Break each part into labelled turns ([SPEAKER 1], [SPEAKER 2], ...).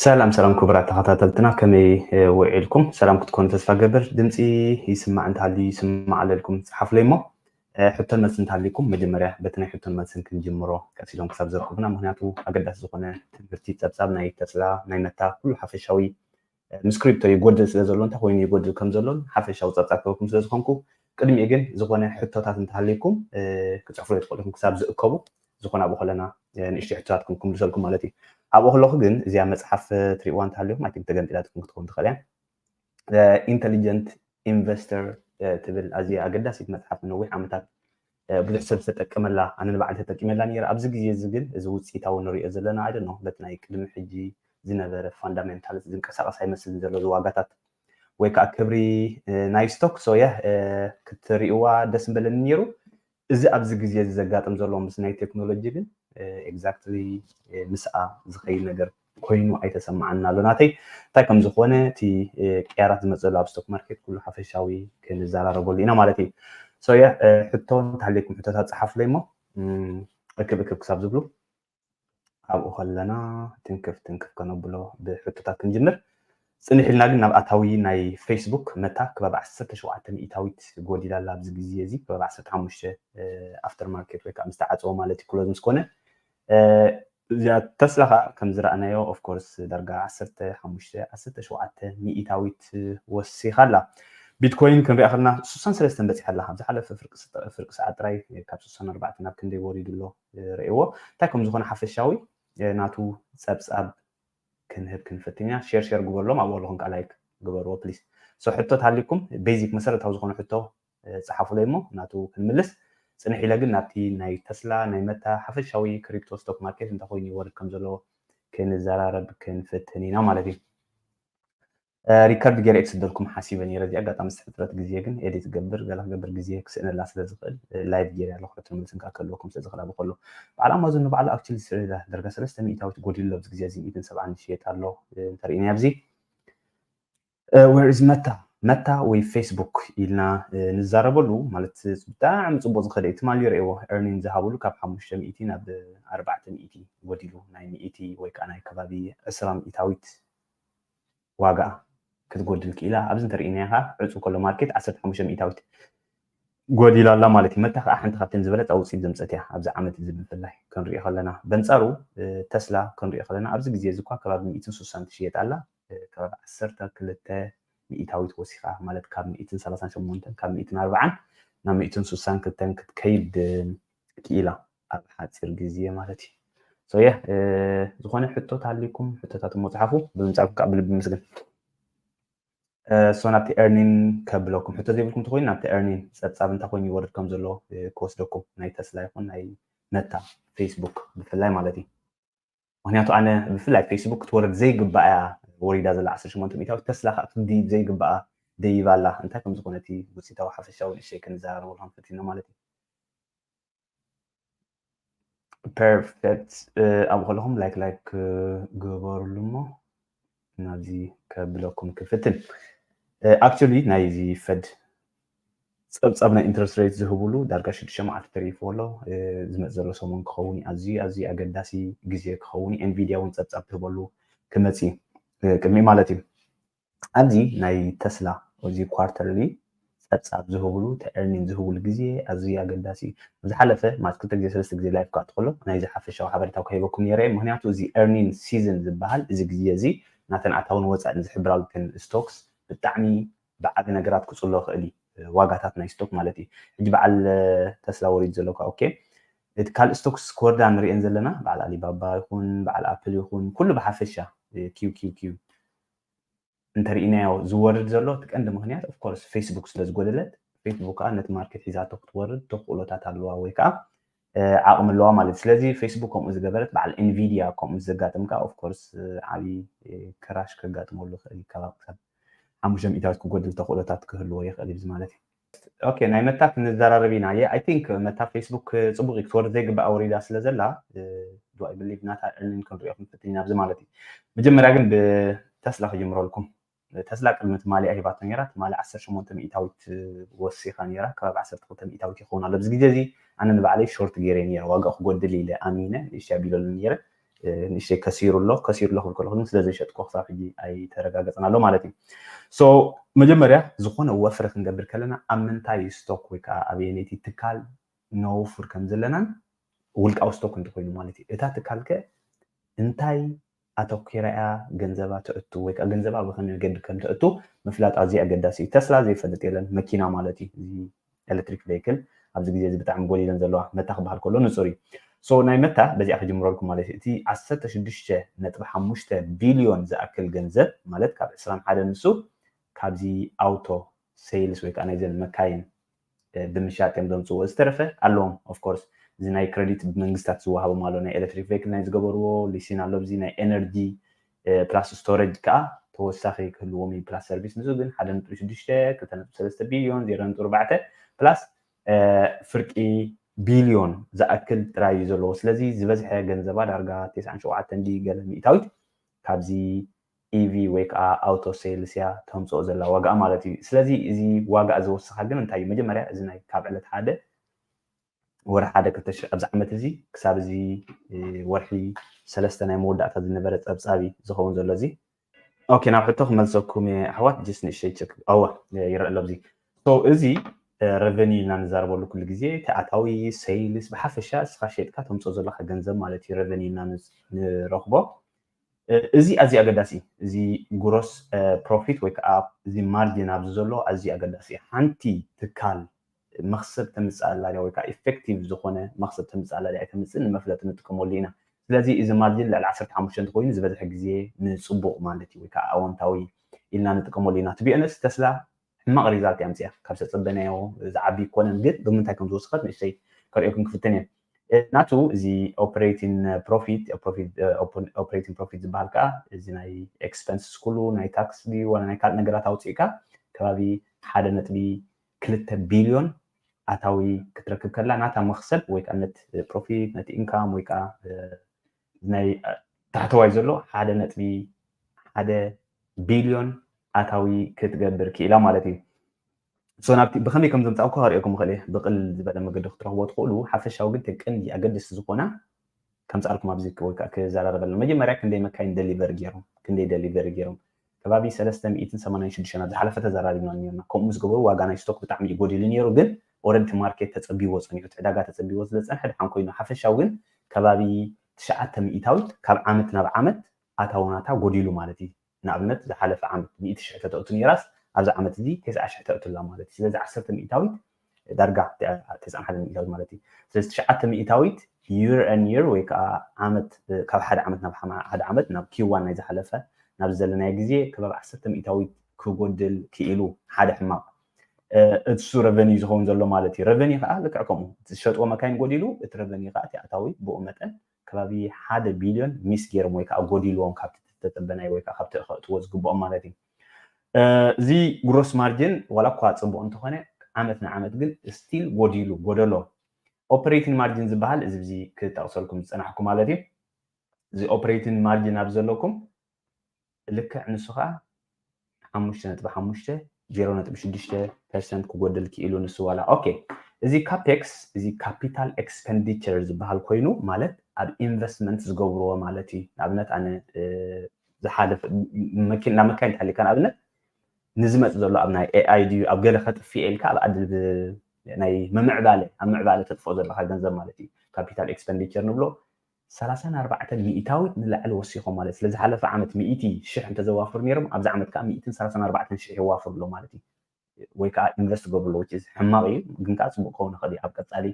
[SPEAKER 1] ሰላም ሰላም ክቡራት ተኸታተልትና ከመይ ውዒልኩም? ሰላም ክትኮኑ ተስፋ ገብር። ድምፂ ይስማዕ እንተሃልዩ ይስማዕ ኣለልኩም ፀሓፉለይ እሞ ሕቶን መልሲ እንተሃልዩኩም መጀመርያ በቲ ናይ ሕቶን መልስን ክንጅምሮ ቀሲሎም ክሳብ ዘርክቡና፣ ምክንያቱ ኣገዳሲ ዝኾነ ትምህርቲ ፀብፃብ ናይ ተፅላ ናይ መታ ኩሉ ሓፈሻዊ ምስ ክሪፕቶ ይጎድል ስለ ዘሎ እንታይ ኮይኑ ይጎድል ከም ዘሎን ሓፈሻዊ ጸብጻብ ክህበኩም ስለ ዝኾንኩ ቅድሚኡ ግን ዝኾነ ሕቶታት እንተሃልዩኩም ክጽሕፉለይ ትኽእሉ ኢኹም ክሳብ ዝእከቡ ዝኾነ ኣብኡ ከለና ንእሽተይ ሕቶታት ክም ክምልሰልኩም ማለት እዩ ኣብኡ ከለኹ ግን እዚኣ መጽሓፍ ትሪእዋ እንተሃልዩኹም ኣይቲንክ ተገንጢላትኩም ክትከውን ትኽእል እያ ኢንተሊጀንት ኢንቨስተር ትብል ኣዝያ ኣገዳሲት መጽሓፍ ንዊሕ ዓመታት ብዙሕ ሰብ ዝተጠቀመላ ኣነ ንባዕለይ ተጠቂመላ ነይረ ኣብዚ ግዜ እዚ ግን እዚ ውጽኢታዊ ንርእዮ ዘለና ኣይ ዶንኖ በቲ ናይ ቅድሚ ሕጂ ዝነበረ ፋንዳሜንታልስ ዝንቀሳቀስ ኣይመስልን ዘሎ እዚ ዋጋታት ወይ ከዓ ክብሪ ናይ ስቶክ ሶ ያ ክትርእዋ ደስ ምበለኒ ነይሩ እዚ ኣብዚ ግዜ እዚ ዘጋጥም ዘሎ ምስ ናይ ቴክኖሎጂ ግን ኤግዛክትሊ ምስኣ ዝኸይድ ነገር ኮይኑ ኣይተሰማዓንን ኣሎ ናተይ እንታይ ከም ዝኾነ እቲ ቅያራት ዝመጸሉ ኣብ ስቶክ ማርኬት ኩሉ ሓፈሻዊ ክንዘራረበሉ ኢና ማለት እዩ ሶ ያ ሕቶ እንተሃልየኩም ሕቶታት ጸሓፉለይ እሞ እክብ እክብ ክሳብ ዝብሉ ኣብኡ ከለና ትንክፍ ትንክፍ ከነብሎ ብሕቶታት ክንጅምር ፅንሕ ኢልና ግን ናብ ኣታዊ ናይ ፌስቡክ መታ ክበብ 17 ሚእታዊት ጎዲላ ኣላ ኣብዚ ግዜ እዚ ክበብ 15 ኣፍተር ማርኬት ወይ ከዓ ምስ ተዓፀወ ማለት እዩ ክሎዝ ምስ ኮነ እዚኣ ተስላ ከኣ ከም ዝረኣናዮ ኦፍ ኮርስ ዳርጋ ዓሰርተ ሓሙሽተ ዓሰርተ ሸውዓተ ሚኢታዊት ወሲኻ ኣላ። ቢትኮይን ክንሪኣ ከለና ስሳን ሰለስተን በጺሓ ኣላ። ኣብ ዝሓለፈ ፍርቂ ሰዓት ጥራይ ካብ ስሳን ኣርባዕተን ናብ ክንደይ ወሪዱ ኣሎ ርእይዎ። እንታይ ከም ዝኾነ ሓፈሻዊ ናቱ ጸብጻብ ክንህብ ክንፍትን ኢና። ሼር ሼር ግበርሎም ኣብኡ ኣለኹም ከኣ ላይክ ግበርዎ ፕሊስ። ሶ ሕቶ ተሃልዩኩም ቤዚክ መሰረታዊ ዝኾነ ሕቶ ጸሓፉለይ እሞ ናቱ ክንምልስ። ጽንሕ ኢለ ግን ናብቲ ናይ ተስላ ናይ መታ ሓፈሻዊ ክሪፕቶ ስቶክ ማርኬት እንታይ ኮይኑ ይወርድ ከም ዘሎ ክንዘራረብ ክንፍትን ኢና ማለት እዩ። ሪከርድ ገይረ ክስደልኩም ሓሲበ ነይረ እዚኣ ኣጋጣሚ ዝተፈጥረት ግዜ ግን ኤዲት ገብር ገለ ክገብር ግዜ ክስእነላ ስለ ዝኽእል ላይቭ ገይረ ኣለኹ ሕቶ መልስን ካብ ከለኩም ስለ ዝኽእል ኣብ ከሎ በዓል ኣማዞን ንባዕሉ ኣክቹሊ ስዒዳ ደርጋ ሰለስተ ሚእታዊት ጎዲሉ ኣብዚ ግዜ እዚ ሚእትን ሰብዓን ይሽየጥ ኣሎ እንተርእናዮ ኣብዚ ዌር ኢዝ መታ መታ ወይ ፌስቡክ ኢልና ንዛረበሉ ማለት ብጣዕሚ ፅቡቅ ዝኸደ እዩ ትማሊ ርእዎ ኤርኒን ዝሃብሉ ካብ ሓሙሽተ ሚእቲ ናብ ኣርባዕተ ሚእቲ ጎዲሉ ናይ ሚእቲ ወይ ከዓ ናይ ከባቢ ዕስራ ሚእታዊት ዋጋ ክትጎድል ክኢላ ኣብዚ እንተርእይናያ ከዓ ዕፁ ከሎ ማርኬት ዓሰርተ ሓሙሽተ ሚእታዊት ጎዲላ ኣላ ማለት እዩ መታ ከዓ ሓንቲ ካብተን ዝበለፃ ውፅኢት ዘምፀት እያ ኣብዚ ዓመት እዚ ብፍላይ ክንሪኦ ከለና በንፃሩ ተስላ ክንሪኦ ከለና ኣብዚ ግዜ እዚ እኳ ከባቢ ሚእትን ስሳን ትሽየጥ ኣላ ካብ ዓሰርተ ክልተ ሚኢታዊት ወሲኻ ማለት ካብ ሚኢትን ሰላሳን ሸሞንተን ካብ ሚኢትን ኣርባዓን ናብ ሚኢትን ሱሳን ክልተን ክትከይድ ክኢላ ኣብ ሓጺር ግዜ ማለት እዩ ሶ ያ ዝኾነ ሕቶ ታሊኩም ሕቶታት እሞ ጽሓፉ ብምጻኩም ከዓ ብልቢ ምስግን ሶ ናብቲ ኤርኒን ከብለኩም ሕቶ ዘይብልኩም ተኮይኑ ናብቲ ኤርኒን ጸብጻብ እንታይ ኮይኑ ይወርድ ከም ዘሎ ክወስደኩም ናይ ተስላ ይኹን ናይ መታ ፌስቡክ ብፍላይ ማለት እዩ ምክንያቱ ኣነ ብፍላይ ፌስቡክ ክትወርድ ዘይግባኣያ ወሪዳ ዘላ ዓሰርተ ሸሞንተ ሚኢታዊት ተስላ ከኣ ክትድይብ ዘይግባኣ ደይባ ኣላ እንታይ ከም ዝኮነ እቲ ውጺታዊ ሓፈሻዊ ንእሽተይ ክንዛራረበሉ ክንፈቲና ማለት እዩ ፐርፌክት ኣብኡ ከለኹም ላይክ ላይክ ግበሩሉ እሞ ናብዚ ከብለኩም ክፍትን ኣክቹሊ ናይዚ ፈድ ፀብፃብ ናይ ኢንትረስት ሬት ዝህብሉ ዳርጋ ሽዱሽተ መዓልቲ ተሪፍዎ ኣሎ ዝመፅ ዘሎ ሰሙን ክኸውን እዩ ኣዝዩ ኣዝዩ ኣገዳሲ ግዜ ክኸውን እዩ ኤንቪድያ እውን ፀብፃብ ትህበሉ ክመፅ እዩ ቅድሚ ማለት እዩ ኣብዚ ናይ ተስላ እዚ ኳርተርሊ ጸብጻብ ዝህቡሉ ትዕርሚን ዝህቡሉ ግዜ ኣዝዩ ኣገዳሲ እዩ። ኣብ ዝሓለፈ ማት ክልተ ግዜ ሰለስተ ግዜ ላይፍ ክኣቱ ከሎ ናይዚ ሓፈሻዊ ሓበሬታ ክህበኩም ኔረ እየ ምክንያቱ እዚ ኤርኒን ሲዝን ዝብሃል እዚ ግዜ እዚ ናተን ኣታዊን ወጻኢን ዝሕብራሉ እተን ስቶክስ ብጣዕሚ ብዓቢ ነገራት ክጽሎ ይክእል እዩ ዋጋታት ናይ ስቶክ ማለት እዩ ሕጂ በዓል ተስላ ወሪዱ ዘሎ እካ ኦኬ እቲ ካልእ ስቶክስ ክወርዳ ንርእየን ዘለና በዓል ኣሊባባ ይኹን በዓል ኣፕል ይኹን ኩሉ ብሓፈሻ ኪው ኪው ኪው እንተሪኢናዮ ዝወርድ ዘሎ እቲ ቀንዲ ምኽንያት of course facebook ስለ ዝጎደለት facebook ከኣ ነቲ ማርኬት ሒዛቶ ክትወርድ ተኽእሎታት ኣለዋ ወይ ከኣ ዓቕሚ ኣለዋ ማለት ስለዚ facebook ከምኡ ዝገበረት በዓል nvidia ከምኡ ምስ ዘጋጥም ከኣ of course ዓቢ ክራሽ ከጋጥመሉ ይኽእል ካብ ሓሙሽተ ሚእታዊት ክጎድል ተኽእሎታት ክህልዎ ይኽእል እዩ ማለት እዩ ኦኬ ናይ መታ ክንዘራረብ ኢና ኣይ ቲንክ መታ ፌስቡክ ፅቡቅ እዩ ክትወርድ ዘይግባእ ወሪዳ ስለ ዘላ ዱ ኣይ ብሊቭ ናታ ዕንን ክንሪኦ ክንፍትን ኣብዚ ማለት እዩ መጀመርያ ግን ብተስላ ክጅምረልኩም ተስላ ቅድሚ ትማሊ ሂባቶ ነራ ትማሊ 18 ሚእታዊት ወሲኻ ነራ ከባቢ 12 ሚእታዊት ይኸውን ኣሎ ኣብዚ ግዜ እዚ ኣነ ንባዕለይ ሾርት ገይረ ነረ ዋጋኡ ክጎድል ኢለ ኣሚነ ንእሽተይ ኣቢለሉ ነረ ንእሽተይ ከሲሩ ኣሎ ከሲሩ ኣሎ ክብል ከለኹ ግን ስለ ዘይሸጥኩ ክሳብ ሕጂ ኣይተረጋገፅን ኣሎ ማለት እዩ ሶ መጀመርያ ዝኾነ ወፍሪ ክንገብር ከለና ኣብ ምንታይ ስቶክ ወይ ከዓ ኣበየነይቲ ትካል ነውፍር ከም ዘለናን ውልቃዊ ስቶክ እንተኮይኑ ማለት እዩ እታ ትካል ከ እንታይ ኣተኪራ እያ ገንዘባ ተእቱ ወይ ከዓ ገንዘባ ብከመይ መገዲ ከም ተእቱ ምፍላጥ ኣዝዩ ኣገዳሲ እዩ ተስላ ዘይፈልጥ የለን መኪና ማለት እዩ እዚ ኤለትሪክ ቨይክል ኣብዚ ግዜ እዚ ብጣዕሚ ጎሊለን ዘለዋ መታ ክበሃል ከሎ ንጹር እዩ so ናይ መታ በዚኣ ክጅምረልኩም ማለት እዩ እቲ ዓሰርተ ሽዱሽተ ነጥቢ ሓሙሽተ ቢልዮን ዝኣክል ገንዘብ ማለት ካብ ዕስራን ሓደን ንሱ ካብዚ ኣውቶ ሰይልስ ወይ ከዓ ናይዘን መካይን ብምሻጥ እዮም ዘምፅዎ ዝተረፈ ኣለዎም ኦፍኮርስ እዚ ናይ ክረዲት ብመንግስታት ዝወሃቦም ኣሎ ናይ ኤሌክትሪክ ቬክል ናይ ዝገበርዎ ሊሲን ኣሎ እዚ ናይ ኤነርጂ ፕላስ ስቶረጅ ከኣ ተወሳኺ ክህልዎም እዩ ፕላስ ሰርቪስ ንሱ ግን ሓደ ነጥቢ ሽዱሽተ ክልተ ነጥቢ ሰለስተ ቢልዮን ዜሮ ነጥቢ ኣርባዕተ ፕላስ ፍርቂ ቢልዮን ዝኣክል ጥራይ እዩ ዘለዎ ስለዚ ዝበዝሐ ገንዘባ ዳርጋ ቴስዓን ሸውዓተን ድዩ ገለ ሚእታዊት ካብዚ ኢቪ ወይ ከዓ ኣውቶ ሴልስ እያ ተምፅኦ ዘላ ዋጋኣ ማለት እዩ ስለዚ እዚ ዋጋኣ ዝወሰኻ ግን እንታይ እዩ መጀመርያ እዚ ናይ ካብ ዕለት ሓደ ወርሒ ሓደ ክልተ ሽሕ ኣብዚ ዓመት እዚ ክሳብ እዚ ወርሒ ሰለስተ ናይ መወዳእታ ዝነበረ ጸብጻብ እዩ ዝኸውን ዘሎ እዚ ኦኬ ናብ ሕቶ ክመልሰኩም እየ ኣሕዋት ጅስ ንእሸይ ቸክ ኣዋ ይረአ ኣሎ ኣብዚ እዚ ረቨኒ ኢልና ንዛረበሉ ኩሉ ግዜ እቲ ኣታዊ ሰይልስ ብሓፈሻ እስኻ ሸጥካ ተምፅኦ ዘለካ ገንዘብ ማለት እዩ ረቨኒ ኢልና ንረኽቦ እዚ ኣዝዩ ኣገዳሲ እዩ እዚ ጉሮስ ፕሮፊት ወይ ከዓ እዚ ማርጅን ኣብዚ ዘሎ ኣዝዩ ኣገዳሲ እዩ ሓንቲ ትካል መኽሰብ ተምጽእ ኣላ ድያ ወይ ከኣ ኢፈክቲቭ ዝኾነ መኽሰብ ተምጽእ ኣላ ድያ ኣይተምጽእን ንመፍለጢ ንጥቀመሉ ኢና። ስለዚ እዚ ማርጂን ልዕሊ ዓሰርተ ሓሙሽተ እንተኾይኑ ዝበዝሐ ግዜ ንጽቡቕ ማለት እዩ ወይ ከኣ ኣወንታዊ ኢልና ንጥቀመሉ ኢና። ቱ ቢ ኦነስት ተስላ ሕማቕ ሪዛልት እያ ኣምጺኣ ካብ ዝተጸበናዮ ዝዓቢ ኣይኮነን ግን ብምንታይ ከም ዝወሰኸት ንእሽተይ ከርእየኩም ክፍትን እየ። ናቱ እዚ ኦፕሬቲን ፕሮፊት ኦፕሬቲን ፕሮፊት ዝበሃል ከኣ እዚ ናይ ኤክስፐንስስ ኩሉ ናይ ታክስ ድዩ ዋላ ናይ ካልእ ነገራት ኣውጺእካ ከባቢ ሓደ ነጥቢ ክልተ ቢልዮን ኣታዊ ክትረክብ ከላ ናታ መኽሰብ ወይ ከኣ ነት ፕሮፊት ነት ኢንካም ወይ ከኣ ናይ ታሕተዋይ ዘሎ ሓደ ነጥቢ ሓደ ቢልዮን ኣታዊ ክትገብር ክኢላ ማለት እዩ ሶ ናብቲ ብኸመይ ከም ዘምፃእኩ ከርእየኩም ይኽእል እየ ብቕል ዝበለ መገዲ ክትረኽቦ ትኽእሉ ሓፈሻዊ ግን ተን ቀንዲ ኣገደስቲ ዝኾና ከምጽኣልኩም ኣብዚ ወይ ከኣ ክዛራረበልና መጀመርያ ክንደይ መካይን ደሊቨሪ ጌሮም ክንደይ ደሊቨሪ ጌሮም ከባቢ ሰለስተ ሚእትን ሰማንያን ሽዱሽተን ኣብ ዝሓለፈ ተዛራሪብና ኔርና ከምኡ ምስ ገበሩ ዋጋ ናይ ስቶክ ብጣዕሚ እዩ ጎዲሉ ኔሩ ግን ኦረዲ እቲ ማርኬት ተጸቢዎ ጸኒሑ እቲ ዕዳጋ ተጸቢዎ ስለ ዝጸንሐ ድሓን ኮይኑ ሓፈሻዊ ግን ከባቢ ትሽዓተ ሚኢታዊት ካብ ዓመት ናብ ዓመት ኣታዊ ናታ ጎዲሉ ማለት እዩ ንኣብነት ዝሓለፈ ዓመት ሚእቲ ሽሕ ተተእቱ ነይራስ ኣብዚ ዓመት እዚ ተስዓ ሽሕ ተእቱላ ማለት እዩ። ስለዚ ዓሰርተ ሚእታዊት ዳርጋ ተስዓን ሓደን ሚእታዊት ማለት እዩ። ስለዚ ትሽዓተ ሚእታዊት year on year ወይ ከዓ ዓመት ካብ ሓደ ዓመት ናብ ሓደ ዓመት ናብ Q1 ናይ ዝሓለፈ ናብዚ ዘለናዮ ግዜ ከባቢ ዓሰርተ ሚእታዊት ክጎድል ክኢሉ ሓደ ሕማቕ እሱ ረቨኒ ዝኸውን ዘሎ ማለት እዩ። ረቨኒ ከዓ ልክዕ ከምኡ እቲ ዝሸጥዎ መካይን ጎዲሉ እቲ ረቨኒ ከዓ እቲ ኣታዊ ብኡ መጠን ከባቢ ሓደ ቢልዮን ሚስ ገይሮም ወይ ከኣ ጎዲልዎም ካብቲ ዝተጸበናዮ ወይ ከኣ ካብቲ ከእትዎ ዝግብኦም ማለት እዩ። እዚ ግሮስ ማርጅን ዋላ እኳ ጽቡቕ እንተኾነ ዓመት ንዓመት ግን ስቲል ጎዲሉ ጎደሎ ኦፕሬቲን ማርጅን ዝበሃል እዚ ብዚ ክጠቕሰልኩም ዝጸናሕኩ ማለት እዩ። እዚ ኦፕሬቲን ማርጅን ኣብዚ ዘለኩም ብልክዕ ንሱ ከኣ ሓሙሽተ ነጥቢ ሓሙሽተ፣ ዜሮ ነጥቢ ሽዱሽተ፣ ፐርሰንት ክጎድል ክኢሉ ንሱ ዋላ ኦኬ እዚ ካፔክስ እዚ ካፒታል ኤክስፐንዲቸር ዝበሃል ኮይኑ ማለት ኣብ ኢንቨስትመንት ዝገብርዎ ማለት እዩ ንኣብነት ኣነ ዝሓለፈ መኪና መካይን ተሓሊካ ንኣብነት ንዝመፅ ዘሎ ኣብ ናይ ኤኣይ ድዩ ኣብ ገለ ከጥፍኤ ኢልካ ኣብ ኣድል ናይ ምምዕባለ ኣብ ምዕባለ ተጥፍኦ ዘለካ ገንዘብ ማለት እዩ ካፒታል ኤክስፐንዲቸር ንብሎ ሰላሳን ኣርባዕተን ሚኢታዊት ንላዕሊ ወሲኾም ማለት ስለ ዝሓለፈ ዓመት ሚኢቲ ሽሕ እንተዘዋፍሩ ነይሮም ኣብዚ ዓመት ከኣ ሚኢትን ሰላሳን ኣርባዕተን ሽሕ የዋፍሩ ኣለው ማለት እዩ ወይ ከኣ ኢንቨስት ይገብሩ ኣለው which is ሕማቕ እዩ ግን ከኣ ጽቡቕ ክኸውን ይኽእል እዩ ኣብ ቀጻሊ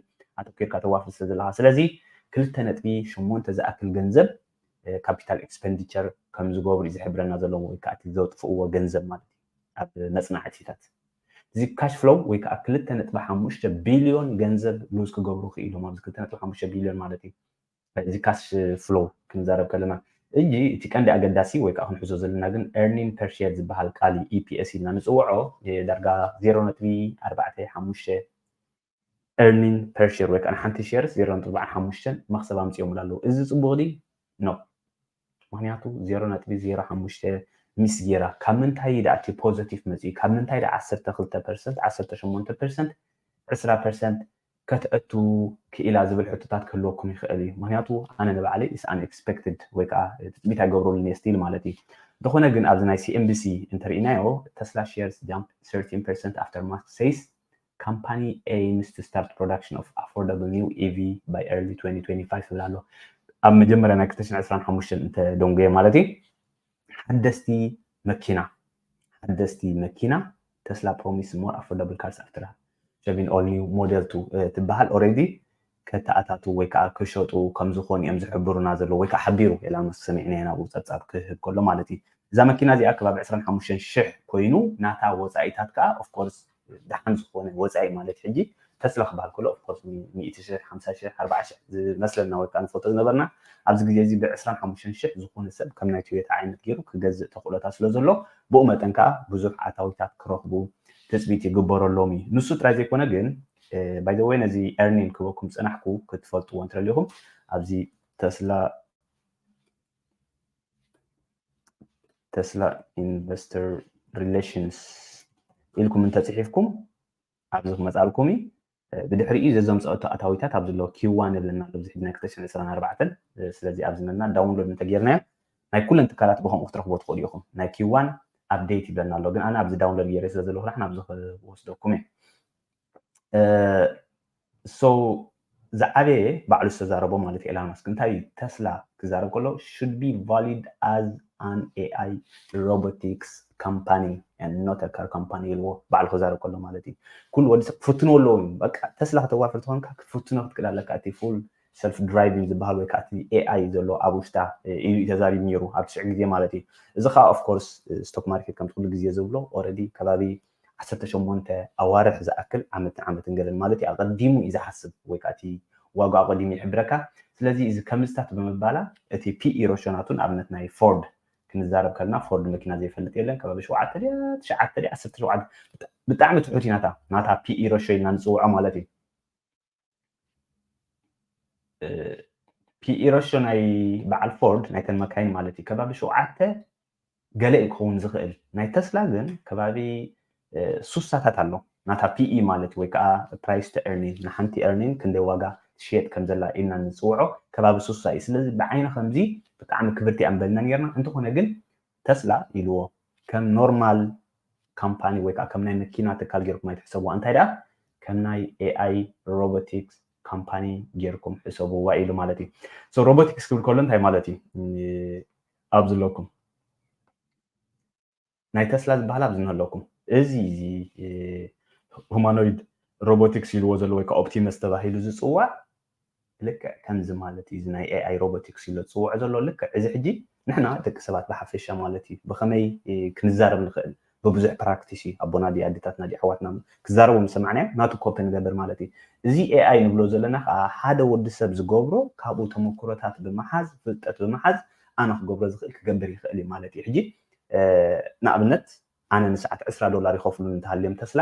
[SPEAKER 1] ኣተኲርካ ተዋፍር ስለ ዘለኻ ስለዚ ክልተ ነጥቢ ሸሞንተ ዝኣክል ገንዘብ ካፒታል ኤክስፐንዲቸር ከም ዝገብሩ እዩ ዝሕብረና ዘሎ ወይ ከኣ እቲ ዘጥፍእዎ ገንዘብ ማለት እዩ ኣብ መጽናዕቲታት፣ እዚ ካሽ ፍሎው ወይ ከኣ ክልተ ነጥቢ ሓሙሽተ ቢልዮን ገንዘብ ሉዝ ክገብሩ ክኢሎም፣ ኣብዚ ክልተ ነጥቢ ሓሙሽተ ቢልዮን ማለት እዩ፣ እዚ ካሽ ፍሎው ክንዛረብ ከለና። ሕጂ እቲ ቀንዲ ኣገዳሲ ወይ ከኣ ክንሕዞ ዘለና ግን ኤርኒን ፐር ሼር ዝበሃል ቃል እዩ፣ EPS ኢልና ንጽውዖ፣ ዳርጋ ዜሮ ነጥቢ ኣርባዕተ ሓሙሽተ earning per share ወይ ከዓ ንሓንቲ ሼርስ ዜሮ ነጥቢ ኣርባዓን ሓሙሽተን መኽሰብ ኣምፂኦሙላ ኣለዉ። እዚ ፅቡቕ ድዩ? No። ምኽንያቱ ዜሮ ነጥቢ ዜሮ ሓሙሽተ ሚስ ጌራ ካብ ምንታይ እዩ ደኣ እቲ ፖዘቲቭ መፂኡ? ካብ ምንታይ ደኣ ዓሰርተ ክልተ ፐርሰንት፣ ዓሰርተ ሸሞንተ ፐርሰንት፣ ዕስራ ፐርሰንት ከተእቱ ክኢላ ዝብል ሕቶታት ክህልወኩም ይኽእል እዩ። ምኽንያቱ ኣነ ንባዕለይ is unexpected ወይ ከዓ ትፅቢት ኣይገብረሉን እየ still ማለት እዩ። እንተኾነ ግን ኣብዚ ናይ CNBC እንተሪኢናዮ ተስላ ሼርስ jump thirteen percent after Musk says ካምፓኒ ኤይምስ ቱ ስታርት ፕሮዳክሽን ኦፍ ኣፎርዳብል ኒው ኢቪ ባይ ኤርሊ ትወንቲ ትወንቲ ፋይቭ ይብል ኣሎ። ኣብ መጀመርያ ናይ ክልተ ሽሕን ዕስራን ሓሙሽተን እንተ ደንጎየ ማለት እዩ ሓደስቲ መኪና ሓደስቲ መኪና ተስላ ፕሮሚስ ሞር ኣፎርዳብል ካርስ ኣፍተር ሃቪን ኦል ኒው ሞዴል ቱ ትበሃል ኦልሬዲ ከተኣታትዉ ወይ ከኣ ክሸጡ ከም ዝኾኑ እዮም ዝሕብሩና ዘለዉ ወይ ከኣ ሓቢሩ ኢላ ምስ ሰሚዕናዮ ናብኡ ጸብጻብ ክህብ ከሎ ማለት እዩ። እዛ መኪና እዚኣ ከባቢ ዕስራን ሓሙሽተን ሽሕ ኮይኑ ናታ ወጻኢታት ከኣ of course ደሓን ዝኾነ ወጻኢ ማለት ሕጂ ተስላ ክበሃል ከሎ of course ሚእቲ ሽሕ ሓምሳ ሽሕ ኣርብዓ ሽሕ ዝመስለና ወይ ከኣ ንፈልጦ ዝነበርና ኣብዚ ግዜ እዚ ብ ዕስራን ሓሙሽተን ሽሕ ዝኾነ ሰብ ከም ናይ ቶዮታ ዓይነት ጌሩ ክገዝእ ተኽእሎታት ስለ ዘሎ ብኡ መጠን ከኣ ብዙሕ ኣታዊታት ክረኽቡ ትጽቢት ይግበረሎም እዩ። ንሱ ጥራይ ዘይኮነ ግን ባይ ዘ ወይ ነዚ ኤርኒል ክበኩም ዝጸናሕኩ ክትፈልጥዎ እንትደሊኹም ኣብዚ ተስላ ተስላ ኢንቨስተር ሪሌሽንስ ኢልኩም እንተፅሒፍኩም ኣብዚ ክመፃልኩም እዩ ብድሕሪ እዩ ዘዞም ፀወቶ ኣታዊታት ኣብ ዘለዎ ኪዋን የብለና ኣብዚ ሕድና ክተሽን ዕስራን ኣርባዕተን ስለዚ ኣብዚ መና ዳውንሎድ እንተጌርናዮ ናይ ኩለን ትካላት ብከምኡ ክትረኽቦ ትኽእሉ ኢኹም ናይ ኪዋን ኣብዴት ይብለና ኣሎ ግን ኣነ ኣብዚ ዳውንሎድ ገይረ ስለ ዘለኹ ንሕና ኣብዚ ክወስደኩም እየ ዝዓበየ ባዕሉ ዝተዛረቦ ማለት ኤላን ማስክ እንታይ እዩ ተስላ ክዛረብ ከሎ ሹድ ቢ ቫሊድ ኣዝ ኣን ኤኣይ ሮቦቲክስ ካምፓኒ ኖት ካር ካምፓኒ ኢልዎ ባዕሉ ክዛረብ ከሎ ማለት እዩ ኩሉ ወዲ ሰብ ክፍትንዎ ኣለዎ እዩ በቃ ተስላ ከተዋፍር ተኾንካ ክትፍትኖ ክትክእል ኣለካ እቲ ፉል ሰልፍ ድራይቪንግ ዝበሃል ወይ ከዓ እቲ ኤኣይ ዘሎ ኣብ ውሽጣ እዩ ተዛሪቡ ነይሩ ኣብ ትሽዕ ግዜ ማለት እዩ እዚ ከዓ ኦፍኮርስ ስቶክ ማርኬት ከምቲ ኩሉ ግዜ ዝብሎ ኦረዲ ከባቢ ዓሰርተ ሸሞንተ ኣዋርሕ ዝኣክል ዓመት ንዓመትን ገለን ማለት እዩ ኣቐዲሙ እዩ ዝሓስብ ወይ ከኣ እቲ ዋግኡ ኣቐዲሙ ይሕብረካ ስለዚ እዚ ከምዝታት ብምባላ እቲ ፒኢ ሮሾ ናቱ ንኣብነት ናይ ፎርድ ክንዛረብ ከለና ፎርድ መኪና ዘይፈልጥ የለን ከባቢ ሸውዓተ ድያ ትሽዓተ ድያ ዓሰርተ ሸውዓተ ብጣዕሚ ትሑት እዩ ናታ ናታ ፒኢ ሮሾ ኢልና ንጽውዖ ማለት እዩ ፒኢረሾ ናይ በዓል ፎርድ ናይተን መካይን ማለት እዩ ከባቢ ሸውዓተ ገለ እዩ ክኸውን ዝኽእል ናይ ተስላ ግን ከባቢ ሱሳታት ኣሎ ናታ ፒኢ ማለት ወይ ከዓ ፕራይስ ቱ ኤርኒን ንሓንቲ ኤርኒን ክንደይ ዋጋ ትሽየጥ ከም ዘላ ኢልና ንፅውዖ ከባቢ ሱሳ እዩ ስለዚ ብዓይኒ ከምዚ ብጣዕሚ ክብርቲ ኣንበልና ነርና እንተኾነ ግን ተስላ ኢልዎ ከም ኖርማል ካምፓኒ ወይ ከኣ ከም ናይ መኪና ትካል ጌርኩም ኣይትሕሰብዋ እንታይ ደኣ ከም ናይ ኤኣይ ሮቦቲክስ ካምፓኒ ጌርኩም ሕሰብዋ ኢሉ ማለት እዩ ሶ ሮቦቲክስ ክብል ከሎ እንታይ ማለት እዩ ኣብ ዝለኩም ናይ ተስላ ዝበሃል ኣብዚ ንህለኩም እዚ እዚ ሁማኖይድ ሮቦቲክስ ኢልዎ ዘሎ ወይ ከዓ ኦፕቲመስ ተባሂሉ ዝፅዋዕ ልክዕ ከምዚ ማለት እዩ እዚ ናይ ኤኣይ ሮቦቲክስ ኢሎ ዝጽውዖ ዘሎ ልክዕ እዚ ሕጂ ንሕና ደቂ ሰባት ብሓፈሻ ማለት እዩ ብኸመይ ክንዛረብ ንኽእል ብብዙሕ ፕራክቲስ እዩ ኣቦና ድዩ ኣዴታትና ድዩ ኣሕዋትና ክዛረቡ ምስ ሰማዕናዮም ናቱ ኮፒ ንገብር ማለት እዩ እዚ ኤኣይ ንብሎ ዘለና ከኣ ሓደ ወዲ ሰብ ዝገብሮ ካብኡ ተመክሮታት ብምሓዝ ፍልጠት ብምሓዝ ኣነ ክገብሮ ዝኽእል ክገብር ይኽእል እዩ ማለት እዩ ሕጂ ንኣብነት ኣነ ንሰዓት ዕስራ ዶላር ይኸፍሉኒ እንተሃልዮም ተስላ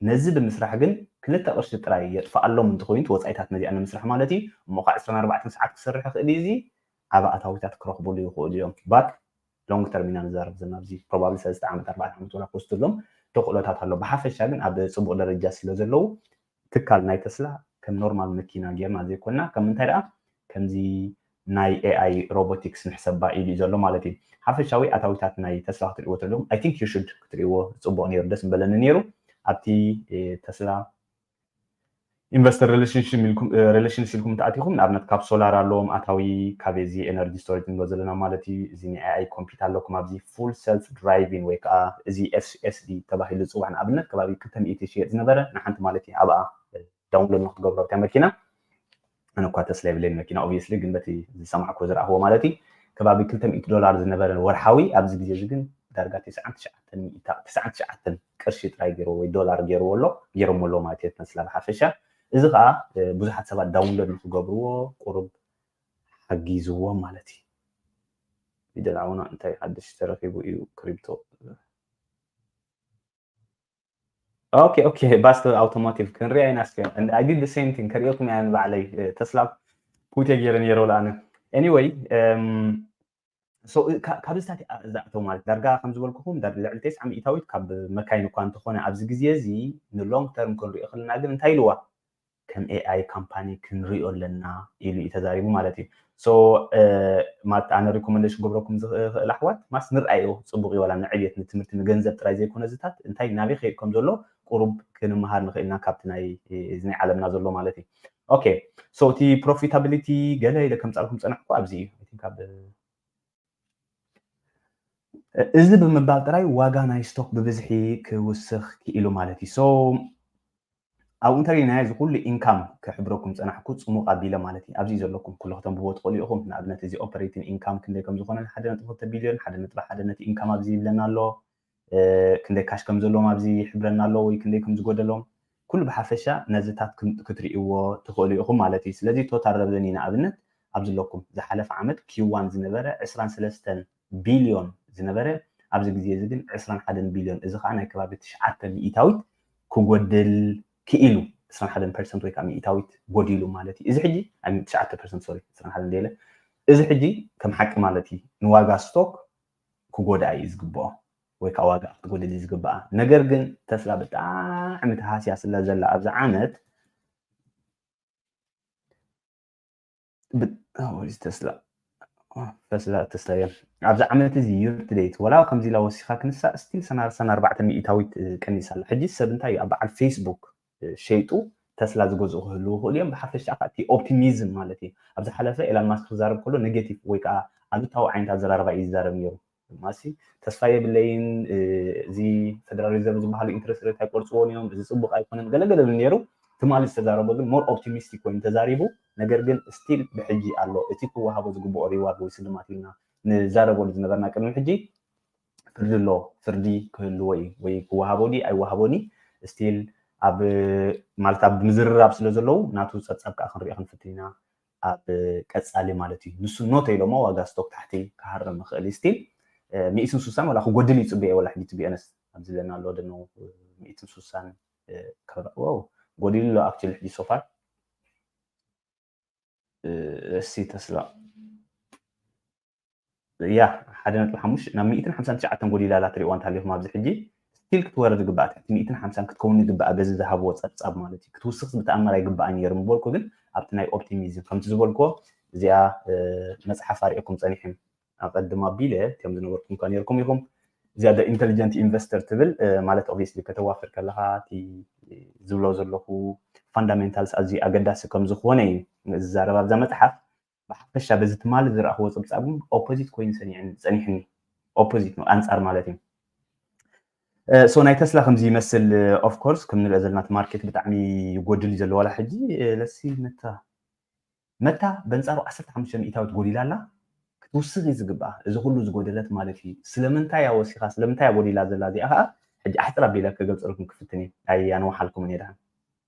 [SPEAKER 1] ነዚ ብምስራሕ ግን ክልተ ቅርሺ ጥራይ የጥፍኣሎም እንተኾይኑ እቲ ወጻኢታት ነዚኣ ንምስራሕ ማለት እዩ እሞ ኸኣ ዕስራን ኣርባዕተን ሰዓት ክሰርሕ ይኽእል እዩ እዚ ዓቢ ኣታዊታት ክረኽብሉ ይኽእሉ እዮም but long term ኢና ንዛረብ ዘለና ኣብዚ probably ሰለስተ ዓመት ኣርባዕተ ዓመት ወላ ክወስደሎም ተኽእሎታት ኣሎ ብሓፈሻ ግን ኣብ ጽቡቕ ደረጃ ስለ ዘለዉ ትካል ናይ ተስላ ከም ኖርማል መኪና ጌርና ዘይኮና ከም እንታይ ደኣ ከምዚ ናይ ኤኣይ ሮቦቲክስ ንሕሰባ ኢሉ እዩ ዘሎ ማለት እዩ። ሓፈሻዊ ኣታዊታት ናይ ተስላ ክትሪእዎ ተለኹም ኣይ ቲንክ ዩ ሹድ ክትሪእዎ ጽቡቕ ኔሩ ደስ ምበለኒ ኔሩ ኣብቲ ተስላ ኢንቨስተር ሬለሽንስ ኢልኩም እንተኣቲኹም ንኣብነት ካብ ሶላር ኣለዎም ኣታዊ ካብ እዚ ኤነርጂ ስቶሬጅ ንብሎ ዘለና ማለት እዩ እዚ ናይ ኤኣይ ኮምፒት ኣለኩም ኣብዚ ፉል ሰልፍ ድራይቪን ወይ ከዓ እዚ ኤስኤስዲ ተባሂሉ ዝፅዋዕ ንኣብነት ከባቢ ክልተ ሚእቲ ይሽየጥ ዝነበረ ንሓንቲ ማለት እዩ ኣብኣ ዳውንሎድ ንክትገብሮ ኣብታ መኪና ኣነ እኳ ተስላ የብለይን መኪና ኦብየስሊ ግን በቲ ዝሰማዕክዎ ዝረኣኽዎ ማለት እዩ ከባቢ ክልተ ሚእቲ ዶላር ዝነበረ ወርሓዊ ኣብዚ ግዜ እዚ ግን ዳርጋ ትስዓን ትሽዓተን ሚእታ ትስዓን ትሽዓተን ቅርሺ ጥራይ ገይርዎ ወይ ዶላር ገይርዎ ኣሎ ገይሮሞ ኣለዉ ማለት እዩ ተስላ ብሓፈሻ እዚ ከዓ ብዙሓት ሰባት ዳውንሎድ ንክገብርዎ ቁሩብ ሓጊዝዎም ማለት እዩ ፊደል ዓውና እንታይ ሓድሽ ተረኺቡ እዩ ክሪፕቶ ኦኬ ኦኬ ባስ ኣውቶሞቲቭ ክንሪኣ ኢና እስከ ኣይ ዲድ ዘ ሴም ቲንግ ከሪኦኩም እያ ንባዕለይ ተስላ ፑቴ ገይረ ነይረ ኣነ ኤኒወይ ካብ ዝታት ዝኣቶ ማለት ዳርጋ ከም ዝበልኩኹም ልዕሊ ቴስዓ ሚእታዊት ካብ መካይን እኳ እንተኾነ ኣብዚ ግዜ እዚ ንሎንግ ተርም ክንሪኦ ከለና ግን እንታይ ኢልዋ ከም AI ካምፓኒ ክንሪኦ ኣለና ኢሉ እዩ ተዛሪቡ ማለት እዩ so ማት ኣነ ሪኮመንደሽን ገብረኩም ዝኽእል ኣሕዋት ማስ ንርኣዮ ጽቡቅ እዩ ዋላ ንዕብየት ንትምህርቲ ንገንዘብ ጥራይ ዘይኮነ ዝታት እንታይ ናበይ ክኸይድ ከም ዘሎ ቁሩብ ክንመሃር ንኽእል ኢና ካብቲ ናይ እዚ ናይ ዓለምና ዘሎ ማለት እዩ ኦኬ so እቲ ፕሮፊታቢሊቲ ገለ ኢለ ከምጻልኩም ጸናሕኩ ኣብዚ እዩ i think ኣብ እዚ ብምባል ጥራይ ዋጋ ናይ ስቶክ ብብዝሒ ክውስኽ ክኢሉ ማለት እዩ ሶ ኣብኡ እንተሪኢና ናይ እዚ ኩሉ ኢንካም ክሕብረኩም ዝጸናሕኩ ጽሙቕ ኣቢለ ማለት እየ። ኣብዚ እዩ ዘለኩም። ኩሉ ከተንብብዎ ትኽእሉ ኢኹም። ንኣብነት እዚ ኦፐሬቲን ኢንካም ክንደይ ከም ዝኾነን ሓደ ነጥቢ ክልተ ቢልዮን ሓደ ነጥቢ ሓደ ነቲ ኢንካም ኣብዚ ይብለና ኣሎ። ክንደይ ካሽ ከም ዘለዎም ኣብዚ ይሕብረና ኣሎ ወይ ክንደይ ከም ዝጎደሎም ኩሉ ብሓፈሻ ነዚታት ክትሪእዎ ትኽእሉ ኢኹም ማለት እዩ። ስለዚ ቶታል ረቨኒ ንኣብነት ኣብዚ ኣለኩም። ዝሓለፈ ዓመት Q-one ዝነበረ ዕስራን ሰለስተን። ቢልዮን ዝነበረ ኣብዚ ግዜ እዚ ግን ዕስራን ሓደን ቢልዮን እዚ ከኣ ናይ ከባቢ ትሽዓተ ሚኢታዊት ክጎድል ክኢሉ ዕስራን ሓደን ፐርሰንት ወይ ከኣ ሚኢታዊት ጎዲሉ ማለት እዩ እዚ ሕጂ ኣብ ትሽዓተ ፐርሰንት ሶሪ ዕስራን ሓደን ደለ እዚ ሕጂ ከም ሓቂ ማለት እዩ ንዋጋ ስቶክ ክጎድኣ እዩ ዝግብኦ ወይ ከዓ ዋጋ ክትጎድል እዩ ዝግብኣ ነገር ግን ተስላ ብጣዕሚ ተሃስያ ስለ ዘላ ኣብዚ ዓመት ተስላ ተስላ ተስላ እዮም ኣብዚ ዓመት እዚ ዩርትደይት ወላ ከምዚ ኢላ ወሲኻ ክንሳ ስቲል ሰናርሰን ኣርባዕተ ሚእታዊት ቀኒሳ ኣላ ሕጂ ሰብ እንታይ እዩ ኣብ በዓል ፌስቡክ ሸይጡ ተስላ ዝገዝኡ ክህልው ይኽእሉ እዮም ብሓፈሻ ከዓ እቲ ኦፕቲሚዝም ማለት እዩ ኣብ ዝሓለፈ ኤላን ማስክ ክዛረብ ከሎ ኔጌቲቭ ወይ ከዓ ኣሉታዊ ዓይነት ኣዘራርባ እዩ ይዛረብ ነይሩ ድማሲ ተስፋ የብለይን እዚ ፈደራል ሪዘርቭ ዝበሃሉ ኢንትረስት ሬት ኣይቆርፅዎን እዮም እዚ ፅቡቅ ኣይኮነን ገለገለ ብል ነይሩ ትማሊ ዝተዛረቦ ግን ሞር ኦፕቲሚስቲክ ኮይኑ ተዛሪቡ ነገር ግን ስቲል ብሕጂ ኣሎ እቲ ክወሃቦ ዝግብኦ ሪዋርድ ወይ ስልማት ኢልና ንዛረበሉ ዝነበርና ቅድሚ ሕጂ ፍርዲ ኣሎ ፍርዲ ክህልዎ እዩ ወይ ክወሃቦ ድዩ ኣይወሃቦን እዩ ስቲል ኣብ ማለት ኣብ ምዝርራብ ስለ ዘለዉ ናቱ ፀብፃብ ከዓ ክንሪኦ ክንፍትን ኢና ኣብ ቀጻሊ ማለት እዩ ንሱ ኖ ተኢሎሞ ዋጋ ስቶክ ታሕቲ ክሃርም ይኽእል እዩ ስቲል ሚእትን ሱሳን ወላ ክጎድል ይጽበዮ ወላ ሕጂ ቲቢኦነስ ኣብዚ ዘለና ኣሎ ደኖ ሚእትን ሱሳን ዋው ጎዲሉ ኣሎ ኣክቹሊ ሕጂ ሶፋር እሲ ተስላ ያህ ሓደ ነጥቢ ሓሙሽ ናብ ሚእትን ሓምሳን ትሽዓተን ጎዲላ ኣላ ትሪእዋ እንተሃሊኹም ኣብዚ ሕጂ ስቲል ክትወርድ ይግብኣ ትሕቲ ሚእትን ሓምሳን ክትከውን ይግብኣ በዚ ዝሃብዎ ጸብጻብ ማለት እዩ ክትውስኽስ ብተኣምር ኣይግብኣን ነይሩ ምበልኩ ግን ኣብቲ ናይ ኦፕቲሚዝም ከምቲ ዝበልኩዎ እዚኣ መጽሓፍ ኣርእየኩም ጸኒሐ ኣቐድም ኣቢለ ከም ዝነበርኩም እኳ ነይርኩም ኢኹም እዚኣ ደ ኢንቴሊጀንት ኢንቨስተር ትብል ማለት ኦብቪየስሊ ከተዋፍር ከለኻ እቲ ዝብሎ ዘለኹ ፋንዳሜንታልስ ኣዝዩ ኣገዳሲ ከም ዝኾነ እዩ ዝዛረብ ኣብዛ መጽሓፍ ብሓፈሻ በዚ ትማሊ ዝረኣኽዎ ጽብጻብ እውን ኦፖዚት ኮይኑ ሰኒዕኒ ጸኒሕኒ ኦፖዚት ነው ኣንጻር ማለት እዩ ሶ ናይ ተስላ ከምዚ ይመስል ኦፍ ኮርስ ከም ንሪኦ ዘለና እቲ ማርኬት ብጣዕሚ ይጎድል እዩ ዘሎ ዋላ ሕጂ ለሲ መታ መታ በንጻሩ 15 ሚእታዊት ጎዲላ ኣላ ክትውስኽ እዩ ዝግብኣ እዚ ኩሉ ዝጎደለት ማለት እዩ ስለምንታይ እያ ወሲኻ ስለምንታይ እያ ጎዲላ ዘላ እዚኣ ከዓ ሕጂ ኣሕፅር ኣቢለ ክገልፀልኩም ክፍትን እየ ኣይ ኣንዋሓልኩምን እየ ድሓን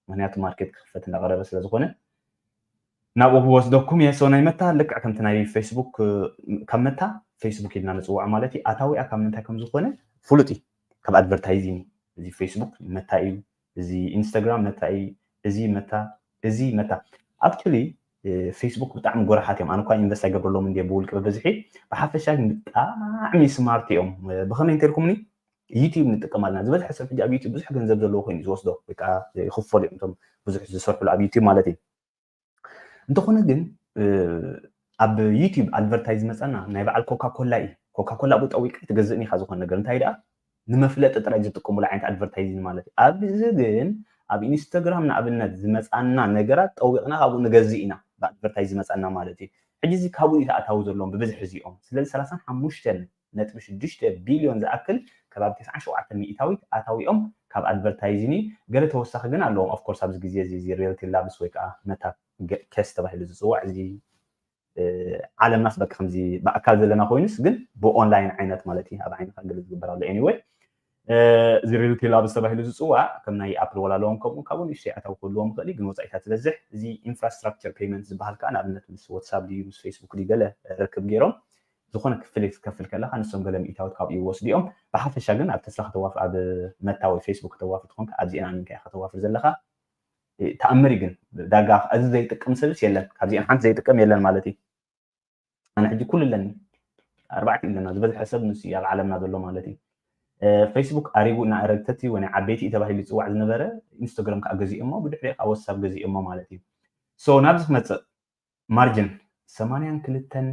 [SPEAKER 1] ምክንያቱ ማርኬት ክኽፈት እንዳቀረበ ስለ ዝኾነ ናብኡ ክወስደኩም እየ ሰው ናይ መታ ልክዕ ከምቲ ናይ ፌስቡክ ካብ መታ ፌስቡክ ኢልና ንፅዋዕ ማለት እዩ ኣታዊኣ ካብ ምንታይ ከም ዝኾነ ፍሉጥ እዩ ካብ ኣድቨርታይዚንግ እዚ ፌስቡክ መታ እዩ እዚ ኢንስታግራም መታ እዩ እዚ መታ እዚ መታ ኣክቹሊ ፌስቡክ ብጣዕሚ ጎረሓት እዮም ኣነ እኳ ኢንቨስት ኣይገብረሎም እንዲ ብውልቂ ብብዝሒ ብሓፈሻ ግን ብጣዕሚ ስማርት እዮም ብኸመይ እንተልኩምኒ ዩቱብ ንጥቀም ኣለና ዝበዝሐ ሰብ ሕጂ ኣብ ዩቱብ ብዙሕ ገንዘብ ዘለዎ ኮይኑ ዝወስዶ ወይ ከዓ ይኽፈሉ እዮም እቶም ብዙሕ ዝሰርሕሉ ኣብ ዩቱብ ማለት እዩ እንተኾነ ግን ኣብ ዩቱብ ኣድቨርታይዝ ዝመፀና ናይ በዓል ኮካኮላ እዩ ኮካኮላ ኣብኡ ጠዊቅካ ኣይትገዝእን ኢኻ ዝኾነ ነገር እንታይ ደኣ ንመፍለጢ ጥራይ ዝጥቀሙሉ ዓይነት ኣድቨርታይዚንግ ማለት እዩ ኣብዚ ግን ኣብ ኢንስታግራም ንኣብነት ዝመፃና ነገራት ጠዊቕና ካብኡ ንገዝእ ኢና ብኣድቨርታይዝ ዝመፃና ማለት እዩ ሕጂ እዚ ካብኡ እዩ ተኣታዊ ዘለዎም ብብዝሒ እዚኦም ስለዚ ሰላሳን ሓሙሽተን ነጥቢ ሽዱሽተ ቢልዮን ዝኣክል ከባቢ ተስዓን ሸውዓተን ሚኢታዊት ኣታዊኦም ካብ ኣድቨርታይዚን እዩ ገለ ተወሳኺ ግን ኣለዎም of course ኣብዚ ግዜ እዚ እዚ ሪልቲ ላብስ ወይ ከኣ መታ ኬስ ተባሂሉ ዝጽዋዕ እዚ ዓለምናስ በቃ ከምዚ ብኣካል ዘለና ኮይኑስ ግን ብኦንላይን ዓይነት ማለት እዩ ኣብ ዓይንኻ ገለ ዝግበር ኣሎ anyway እዚ ሪል ፒል ኣብስ ተባሂሉ ዝፅዋዕ ከም ናይ ኣፕል ወላሎን ከምኡ ካብኡ ንእሽተይ ኣታዊ ክህልዎም ይኽእል እዩ ግን ወፃኢታት ዝበዝሕ እዚ ኢንፍራስትራክቸር ፔይመንት ዝበሃል ከዓ ንኣብነት ምስ ዋትሳፕ ድዩ ምስ ፌስቡክ ድዩ ገለ ርክብ ገይሮም ዝኾነ ክፍሊት ክትከፍል ከለኻ ንሶም ገለ ሚእታዊት ካብኡ ይወስዱ እዮም ብሓፈሻ ግን ኣብ ተስላ ከተዋፍ ኣብ መታ ወይ ፌስቡክ ከተዋፍር ትኾንካ ኣብዚኤን ኣሚንካ ኢኻ ከተዋፍር ዘለኻ ተኣምር ግን ዳጋ እዚ ዘይጥቀም ሰብስ የለን ካብዚኤን ሓንቲ ዘይጥቀም የለን ማለት እዩ ኣነ ሕጂ ኩሉ ኣለኒ ኣርባዕተ እዩ ኣለና ዝበዝሐ ሰብ ንሱ እዩ ኣብ ዓለምና ዘሎ ማለት እዩ ፌስቡክ ኣሪጉ እና ረግተቲ ወይ ናይ ዓበይቲ እዩ ተባሂሉ ይፅዋዕ ዝነበረ ኢንስታግራም ከዓ ገዚኦሞ ብድሕሪ ከዓ ወሳብ ገዚኦሞ ማለት እዩ ሶ ናብዚ ክመፅእ ማርጅን ሰማንያን ክልተን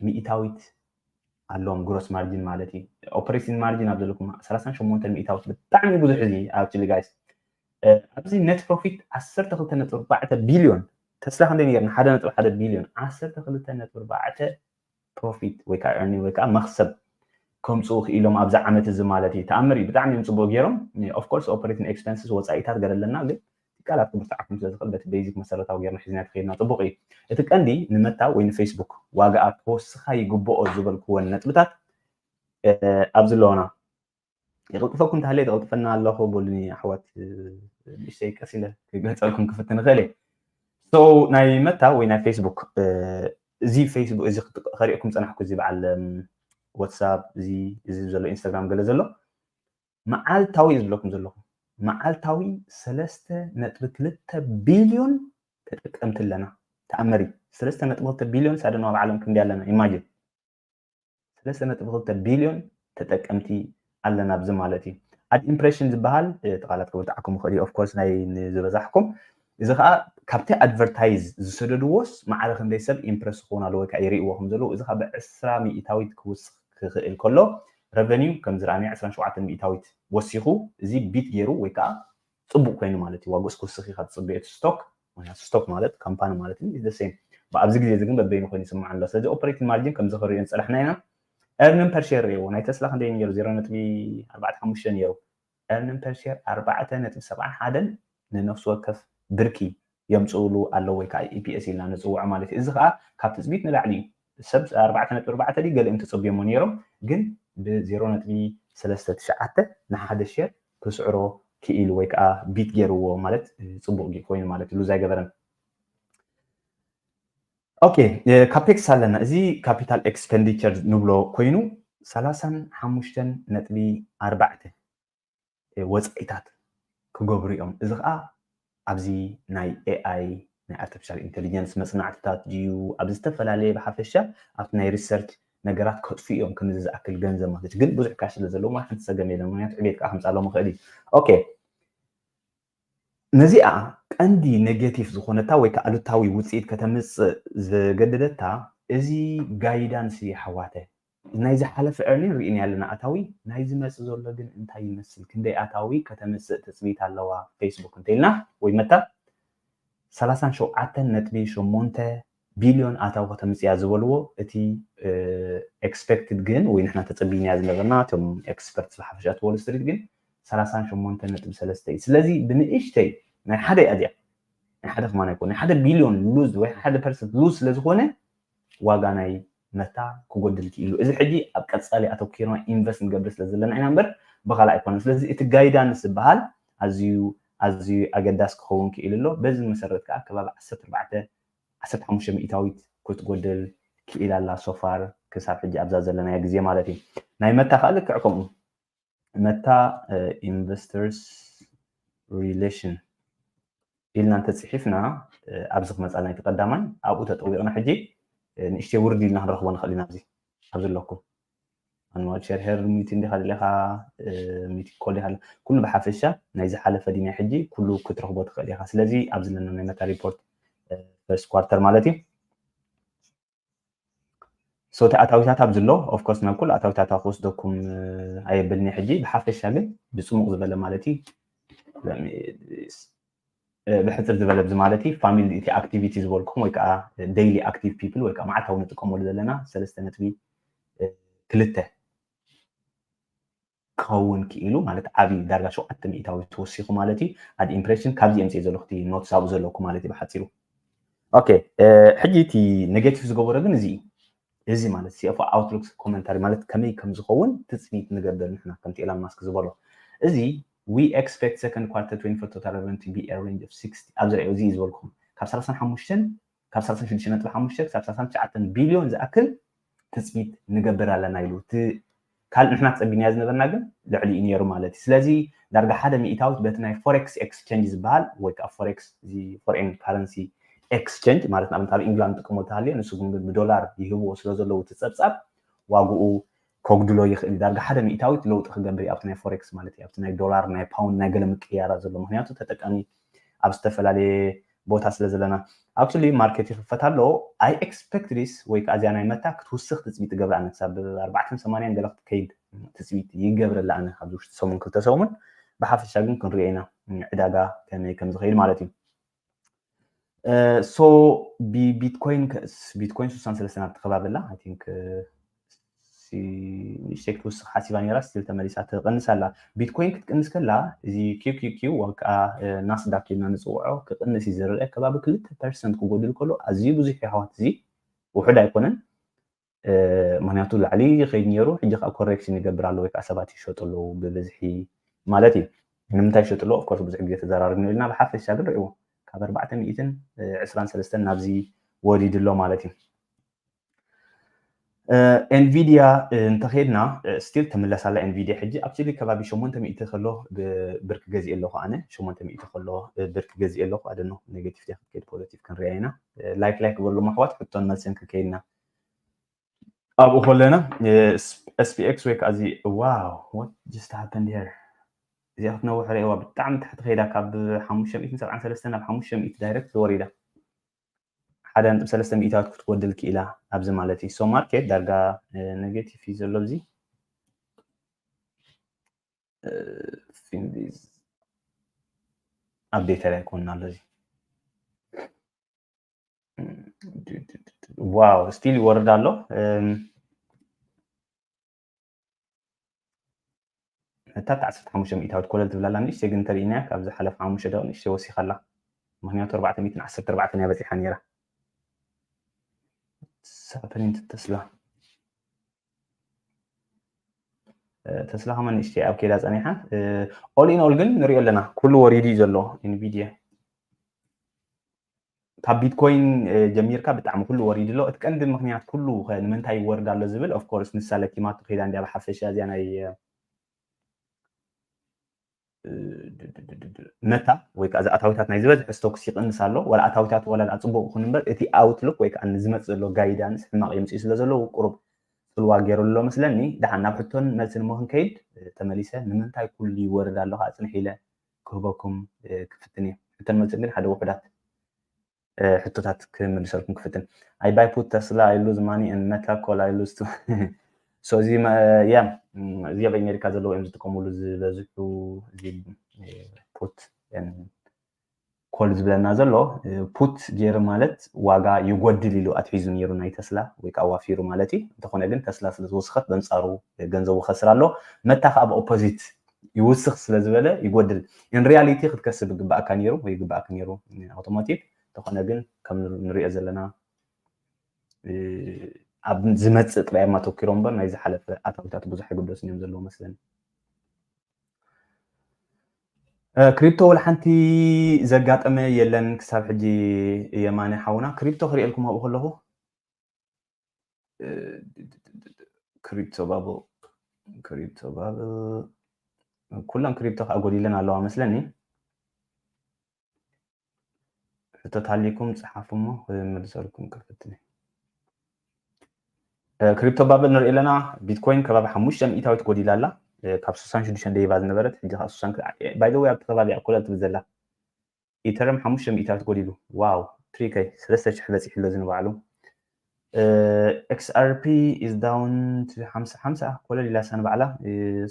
[SPEAKER 1] ሚእታዊት ኣለዎም ግሮስ ማርጅን ማለት እዩ ኦፕሬሽን ማርጅን ኣብ ዘለኩም ሰላሳን ሸሞንተን ሚእታዊት ብጣዕሚ ብዙሕ እዚ ኣብቲ ጋይስ ኣብዚ ነት ፕሮፊት ዓሰርተ ክልተ ነጥቢ ኣርባዕተ ቢልዮን ተስላ ክንደይ ነይርና ሓደ ነጥቢ ሓደ ቢልዮን ዓሰርተ ክልተ ነጥቢ ኣርባዕተ ፕሮፊት ወይ ከዓ ኤርኒንግ ወይ ከዓ መክሰብ ከምፅኡ ክኢሎም ኣብዚ ዓመት እዚ ማለት እዩ ተኣምር እዩ ብጣዕሚ እዮም ፅቡቅ ገይሮም ኦፍኮርስ ኦፐሬቲን ኤክስፐንስስ ወፃኢታት ገለ ኣለና ግን ትካላት ክብርትዓኩም ስለ ዝኽእል በቲ ቤዚክ መሰረታዊ ገይርና ሒዝና ተኸይድና ፅቡቅ እዩ እቲ ቀንዲ ንመታ ወይ ንፌስቡክ ዋጋኣ ክወስኻ ይግብኦ ዝበልክወን ነጥብታት ኣብዚ ኣለዋና ይቕልጥፈኩም እንተሃለየ ተቕልጥፈና ኣለኹ በሉኒ ኣሕዋት ንእሽተይ ቀስ ኢለ ክገልፀልኩም ክፍትን እኽእል እየ ሶ ናይ መታ ወይ ናይ ፌስቡክ እዚ ፌስቡክ እዚ ከሪእኩም ፀናሕኩ እዚ በዓል ዋትሳፕ እዚ እዚ ዘሎ ኢንስታግራም ገለ ዘሎ መዓልታዊ እዩ ዝብለኩም ዘለኹ መዓልታዊ ሰለስተ ነጥቢ ክልተ ቢልዮን ተጠቀምቲ ኣለና ተኣመሪ ሰለስተ ነጥቢ ክልተ ቢልዮን ሳደና ኣብ ዓለም ክንደይ ኣለና ኢማጅን ሰለስተ ነጥቢ ክልተ ቢልዮን ተጠቀምቲ ኣለና ኣብዚ ማለት እዩ ኣድ ኢምፕሬሽን ዝበሃል እቲ ቃላት ክብርትዓኩም ይኽእል እዩ ኦፍኮርስ ናይ ዝበዛሕኩም እዚ ከዓ ካብቲ ኣድቨርታይዝ ዝሰደድዎስ ማዕረ ክንደይ ሰብ ኢምፕረስ ክኸውን ኣለዎ ወይ ከዓ ይርእይዎ ከም ዘለዉ እዚ ከዓ ብዕስራ ሚእታዊት ክውስኽ ክኽእል ከሎ ረቨኒው ከም ዝረኣናዮ ዕስራን ሸውዓተን ሚእታዊት ወሲኹ እዚ ቢት ገይሩ ወይ ከዓ ፅቡቅ ኮይኑ ማለት እዩ ዋግኡስ ክውስኽ እዩ ካብ ዝፅበዮ እቲ ስቶክ ምክንያቱ ስቶክ ማለት ካምፓኒ ማለት እዩ ኢዝ ሴም ኣብዚ ግዜ እዚ ግን በበይኑ ኮይኑ ይስማዕ ኣሎ ስለዚ ኦፐሬቲንግ ማርጅን ከምዚ ክሪኦ ዝፀናሕና ኢና ኤርንን ፐርሼር ሪእዎ ናይ ተስላ ክንደይ ነይሩ 0.45 ነይሩ ኤርንን ፐርሼር 4.71 ንነፍሲ ወከፍ ብርኪ የምፅእሉ ኣለዉ ወይ ከዓ ኢፒኤስ ኢልና ንፅውዖ ማለት እዩ እዚ ከዓ ካብ ትፅቢት ንላዕሊ እዩ ብሰብ ኣርባዕተ ነጥቢ ኣርባዕተ ድዩ ገሊኦም ተጸብዮሞ ኔሮም ግን ብ ዜሮ ነጥቢ ሰለስተ ትሽዓተ ንሓደ ሼር ክስዕሮ ኪኢሉ ወይ ከኣ ቢት ጌርዎ ማለት ጽቡቅ ድዩ ኮይኑ ማለት እዩ ሉዝ ኣይገበረን ኦኬ ካፔክስ ኣለና እዚ ካፒታል ኤክስፐንዲቸር ንብሎ ኮይኑ ሰላሳን ሓሙሽተን ነጥቢ ኣርባዕተ ወጻኢታት ክገብሩ እዮም። እዚ ከኣ ኣብዚ ናይ ኤኣይ ናይ ኣርተፊሻል ኢንተሊጀንስ መጽናዕትታት ድዩ ኣብ ዝተፈላለየ ብሓፈሻ ኣብቲ ናይ ሪሰርች ነገራት ከጥፍኡ እዮም ከምዚ ዝኣክል ገንዘብ ማለት ግን ብዙሕ ካሽ ስለ ዘለዎም ዋላ ሓንቲ ጸገም የለን ምክንያቱ ዕቤት ከኣ ከምጻሎም ይኽእል እዩ ኦኬ ነዚኣ ቀንዲ ኔጌቲቭ ዝኾነታ ወይ ከኣ ኣሉታዊ ውጽኢት ከተምጽእ ዘገደደታ እዚ ጋይዳንስ እዩ ኣሕዋተ። ናይ ዝሓለፈ earning ሪኢናዮ ኣለና ኣታዊ ናይ ዝመጽእ ዘሎ ግን እንታይ ይመስል ክንደይ ኣታዊ ከተምጽእ ትጽቢት ኣለዋ Facebook እንተኢልና ወይ መታ ሰላሳን ሸውዓተን ነጥቢ ሸሞንተ ቢልዮን ኣታዊ ከተምፅእ እያ ዝበልዎ እቲ ኤክስፔክትድ ግን ወይ ንሕና ተፀቢናያ ዝነበርና እቶም ኤክስፐርትስ ብሓፈሻ እቲ ዎል ስትሪት ግን ሰላሳን ሸሞንተን ነጥቢ ሰለስተ እዩ ስለዚ ብንእሽተይ ናይ ሓደ እያ እዚኣ ናይ ሓደ ከማን ኣይኮነ ናይ ሓደ ቢልዮን ሉዝ ወይ ሓደ ፐርሰንት ሉዝ ስለዝኾነ ዋጋ ናይ መታ ክጎድል ክኢሉ እዚ ሕጂ ኣብ ቀፃሊ ኣተኪርና ኢንቨስት ንገብር ስለ ዘለና ኢና እምበር ብኻልእ ኣይኮነን ስለዚ እቲ ጋይዳንስ ዝበሃል ኣዝዩ ኣዝዩ ኣገዳሲ ክኸውን ክኢሉ ኣሎ በዚ መሰረት ከዓ ከባቢ ዓሰርተ ኣርባዕተ ዓሰርተ ሓሙሽተ ሚኢታዊት ክትጎድል ክኢላ ኣላ so far ክሳብ ሕጂ ኣብዛ ዘለናያ ግዜ ማለት እዩ ናይ መታ ከኣ ልክዕ ከምኡ መታ ኢንቨስተርስ ሪሌሽን ኢልና እንተጽሒፍና ኣብዚ ክመጻልና እቲ ቀዳማይ ኣብኡ ተጠዊቕና ሕጂ ንእሽተይ ውርድ ኢልና ክንረኽቦ ንኽእል ኢና ኣብዚ ኣብዚ ኣለኩም ማንዋል ሸርሒር ሚቲ እንዲኻ ድለኻ ሚቲ ኮል ይሃል ኩሉ ብሓፈሻ ናይ ዝሓለፈ ዲ ናይ ሕጂ ኩሉ ክትረኽቦ ትኽእል ኢኻ ስለዚ ኣብዚ ዘለና ናይ መታ ሪፖርት ፈርስት ኳርተር ማለት እዩ ሶቲ ኣታዊታት ኣብዚ ኣሎ ኦፍኮርስ ናብ ኩሉ ኣታዊታታ ክወስደኩም ኣየብልኒ ሕጂ ብሓፈሻ ግን ብፅሙቕ ዝበለ ማለት እዩ ብሕጽር ዝበለ እዚ ማለት እዩ ፋሚሊ እቲ ኣክቲቪቲ ዝበልኩም ወይ ከዓ ደይሊ ኣክቲቭ ፒፕል ወይ ከዓ መዓልታዊ ንጥቀመሉ ዘለና ሰለስተ ነጥቢ ክልተ ክኸውን ክኢሉ ማለት ዓብዪ ዳርጋ ሸውዓተ ሚእታዊ ተወሲኹ ማለት እዩ ኣድ ኢምፕሬሽን ካብዚ የምፅእ ዘለኹ እቲ ኖትስ ኣብኡ ዘለኩ ማለት እዩ ብሓፂሩ ኦኬ ሕጂ እቲ ኔጌቲቭ ዝገበሮ ግን እዚ እዩ እዚ ማለት CFO Outlook Commentary ማለት ከመይ ከም ዝኸውን ትጽቢት ንገብር ንሕና ከምቲ ኤላን ማስክ ዝበሎ እዚ We expect second quarter 2024 total revenue to be a range of 60 ኣብዚ ርኣዮ እዚ እዩ ዝበልኩም ካብ ሰላሳን ሓሙሽተን ካብ ሰላሳን ሽዱሽተን ነጥቢ ሓሙሽተ ክሳብ ሰላሳን ትሽዓተን ቢልዮን ዝኣክል ትጽቢት ንገብር ኣለና ኢሉ እቲ ካልእ ንሕና ተጸጊናዮ ዝነበርና ግን ልዕሊኡ ነይሩ ማለት እዩ። ስለዚ ዳርጋ ሓደ ሚኢታዊት በቲ ናይ ፎሬክስ ኤክስቸንጅ ዝበሃል ወይ ከኣ ፎሬክስ እዚ ፎሬን ካረንሲ ኤክስቸንጅ ማለት ንኣብነት ኣብ ኢንግላንድ ዝጥቀምሉ ተሃልዮ ንሱ ግን ብዶላር ይህብዎ ስለ ዘለዉ እቲ ጸብጻብ ዋግኡ ከጉድሎ ይኽእል እዩ። ዳርጋ ሓደ ሚኢታዊት ለውጢ ክገብር እዩ ኣብቲ ናይ ፎሬክስ ማለት እዩ ኣብቲ ናይ ዶላር ናይ ፓውንድ ናይ ገለ ምቅይያራት ዘሎ ምኽንያቱ ተጠቃሚ ኣብ ዝተፈላለየ ቦታ ስለ ዘለና ኣክቹሊ ማርኬት ይኽፈት ኣሎ ኣይ ኤክስፐክት ዲስ ወይ ከዓ እዚኣ ናይ መታ ክትውስኽ ትፅቢት ትገብር ኣነ ክሳብ ኣርባዕተን ሰማንያን ገለ ክትከይድ ትፅቢት ይገብረላ ኣነ ኣብዚ ውሽጢ ሰሙን ክልተ ሰሙን ብሓፈሻ ግን ክንሪኦ ኢና ዕዳጋ ከመይ ከም ዝኸይድ ማለት እዩ ሶ ብቢትኮይን ቢትኮይን 63 ናብ ተኸባቢ ኣላ ኣይ ቲንክ ንእሽተይ ክትውስኽ ሓሲባ ነይራ ስቲል ተመሊሳ ትቕንስ ኣላ ቢትኮይን ክትቅንስ ከላ እዚ ኪኪኪ ወይ ከዓ ናስዳክ ኢልና ንፅውዖ ክቕንስ እዩ ዝርአ ከባቢ ክልተ ፐርሰንት ክጎድል ከሎ ኣዝዩ ብዙሕ እዩ ኣሕዋት እዚ ውሑድ ኣይኮነን ምክንያቱ ላዕሊ ይኸይድ ነይሩ ሕጂ ከዓ ኮሬክሽን ይገብር ኣሎ ወይ ከዓ ሰባት ይሸጡ ኣለዉ ብብዝሒ ማለት እዩ ንምንታይ ይሸጡ ኣለዉ ኦፍኮርስ ብዙሕ ግዜ ተዘራርብኒ ኢልና ብሓፈሻ ግን ርዕዎ ካብ ኣርባዕተ ሚእትን ዕስራን ሰለስተን ናብዚ ወሪዱ ኣሎ ማለት እዩ ኤንቪድያ እንተኸድና ስቲል ትምለስ ኣላ ኤንቪድያ ሕጂ ኣብስሊ ከባቢ 800 ከሎ ብርኪ ገዚእ ኣለኹ ኣነ 800 ከሎ ብርኪ ገዚእ ኣለኹ ኣደኖ ኔጌቲቭ ዲያ ክትከይድ ፖዘቲቭ ክንሪኣ ኢና ላይክ ላይክ በሉ ማሕዋት ሕቶን መልስን ክንከይድና ኣብኡ ከለና ኤስፒኤክስ ወይ ከዓ እዚ ዋው ዋት ጀስት ሃፐንድ ሄር እዚኣ ክትነውሕ ርእዋ ብጣዕሚ ታሕቲ ከይዳ ካብ 573 ናብ 500 ዳይረክት ወሪዳ ሓደ ነጥቢ ሰለስተ ሚእታዊት ክትጎድል ክኢላ ኣብዚ ማለት እዩ ሶ ማርኬት ዳርጋ ኔጌቲቭ እዩ ዘሎ እዚ ፊንቢዝ ኣፕዴተር ኣይኮንና ኣሎ እዚ ዋው ስቲል ይወርድ ኣሎ እታ እታ ዓሰርተ ሓሙሽተ ሚእታዊት ኮለል ትብል ኣላ ንእሽተይ ግን እንተሪኢናያ ካብ ዝሓለፈ ሓሙሽተ ደቂቅ ንእሽተይ ወሲካ ኣላ ምክንያቱ ኣርባዕተ ሚእትን ዓሰርተ ኣርባዕተን እያ በጺሓ ነይራ ንሳ ፕሪንት ተስላ ተስላ ከማ ንእሽተይ ኣብ ከይዳ ፀኒሓ ኦል ኢን ኦል ግን ንሪኦ ኣለና ኩሉ ወሪዱ እዩ ዘሎ ኢንቪድያ ካብ ቢትኮይን ጀሚርካ ብጣዕሚ ኩሉ ወሪዱ ኣሎ እቲ ቀንዲ ምክንያት ኩሉ ንምንታይ ይወርድ ኣሎ ዝብል ኦፍኮርስ ንሳ ለኪማቶ ከይዳ እንዲያ ብሓፈሻ እዚያ ናይ መታ ወይ ከዓ እዚ ኣታዊታት ናይ ዝበዝሐ ስቶክስ ይቕንስ ኣሎ ዋላ ኣታዊታት ዋላ ድኣ ፅቡቅ ይኹን እምበር እቲ ኣውትሉክ ወይ ከዓ ንዝመፅእ ዘሎ ጋይዳንስ ሕማቅ የምፅኡ ስለ ዘለዉ ቁሩብ ፅልዋ ገይሩ ኣሎ መስለኒ ድሓን ናብ ሕቶን መልስን እሞ ክንከይድ ተመሊሰ ንምንታይ ኩሉ ይወርድ ኣሎ ከዓ ፅንሕ ኢለ ክህበኩም ክፍትን እየ ሕቶ መልስን ግን ሓደ ውሑዳት ሕቶታት ክምልሰልኩም ክፍትን ኣይ ባይ ፑት ተስላ ኣይ ሉዝ ማኒ ን መታ ኮል ኣይ ሉዝ ሶ እዚ ያ እዚ ኣብ ኣሜሪካ ዘለዎ እዮም ዝጥቀምሉ ዝበዝሑ እዚ ፑት ኮል ዝብለና ዘሎ ፑት ገይሩ ማለት ዋጋ ይጎድል ኢሉ ኣትሒዙ ነይሩ ናይ ተስላ ወይ ከዓ ዋፊሩ ማለት እዩ እንተኾነ ግን ተስላ ስለ ዝወስኸት በንፃሩ ገንዘቡ ከስር ኣሎ መታ ከዓ ብኦፖዚት ይውስኽ ስለ ዝበለ ይጎድል ኢን ሪያሊቲ ክትከስብ ይግባእካ ነይሩ ወይ ይግባእክ ነይሩ ኣውቶሞቲቭ ተኾነ ግን ከም ንሪኦ ዘለና ኣብ ዝመፅእ ጥራይ እማ ተኪሮ እምበር ናይ ዝሓለፈ ኣታዊታት ብዙሕ ኣይግደሱን እዮም ዘለዎ መስለኒ ክሪፕቶ ወላ ሓንቲ ዘጋጠመ የለን ክሳብ ሕጂ የማነ ሓውና ክሪፕቶ ክሪኤልኩም ኣብኡ ከለኹ ክሪፕቶ ባብል ክሪፕቶ ባብል ኩለን ክሪፕቶ ከዓ ጎዲለን ኣለዋ መስለኒ ሕቶት ሃሊኩም ፀሓፉ እሞ ክምልሰልኩም ክፍትኒ ክሪፕቶ ባብል ንርኢ ኣለና ቢትኮይን ከባቢ ሓሙሽተ ሚእታዊት ጎዲላ ኣላ ካብ ስሳን ሽዱሽተን ደይባ ዝነበረት ሕጂ ከዓ ስሳን ባይዘወይ ኣብቲ ከባቢ እያ ኮለል ትብል ዘላ ኢተርም ሓሙሽተ ሚእታት ጎዲሉ ዋው ትሪከይ ሰለስተ ሽሕ በፂሑ ኣሎ እዚ ንባዕሉ XRP is down to 50 50 ኮለል ኢላ ሳን ባዕላ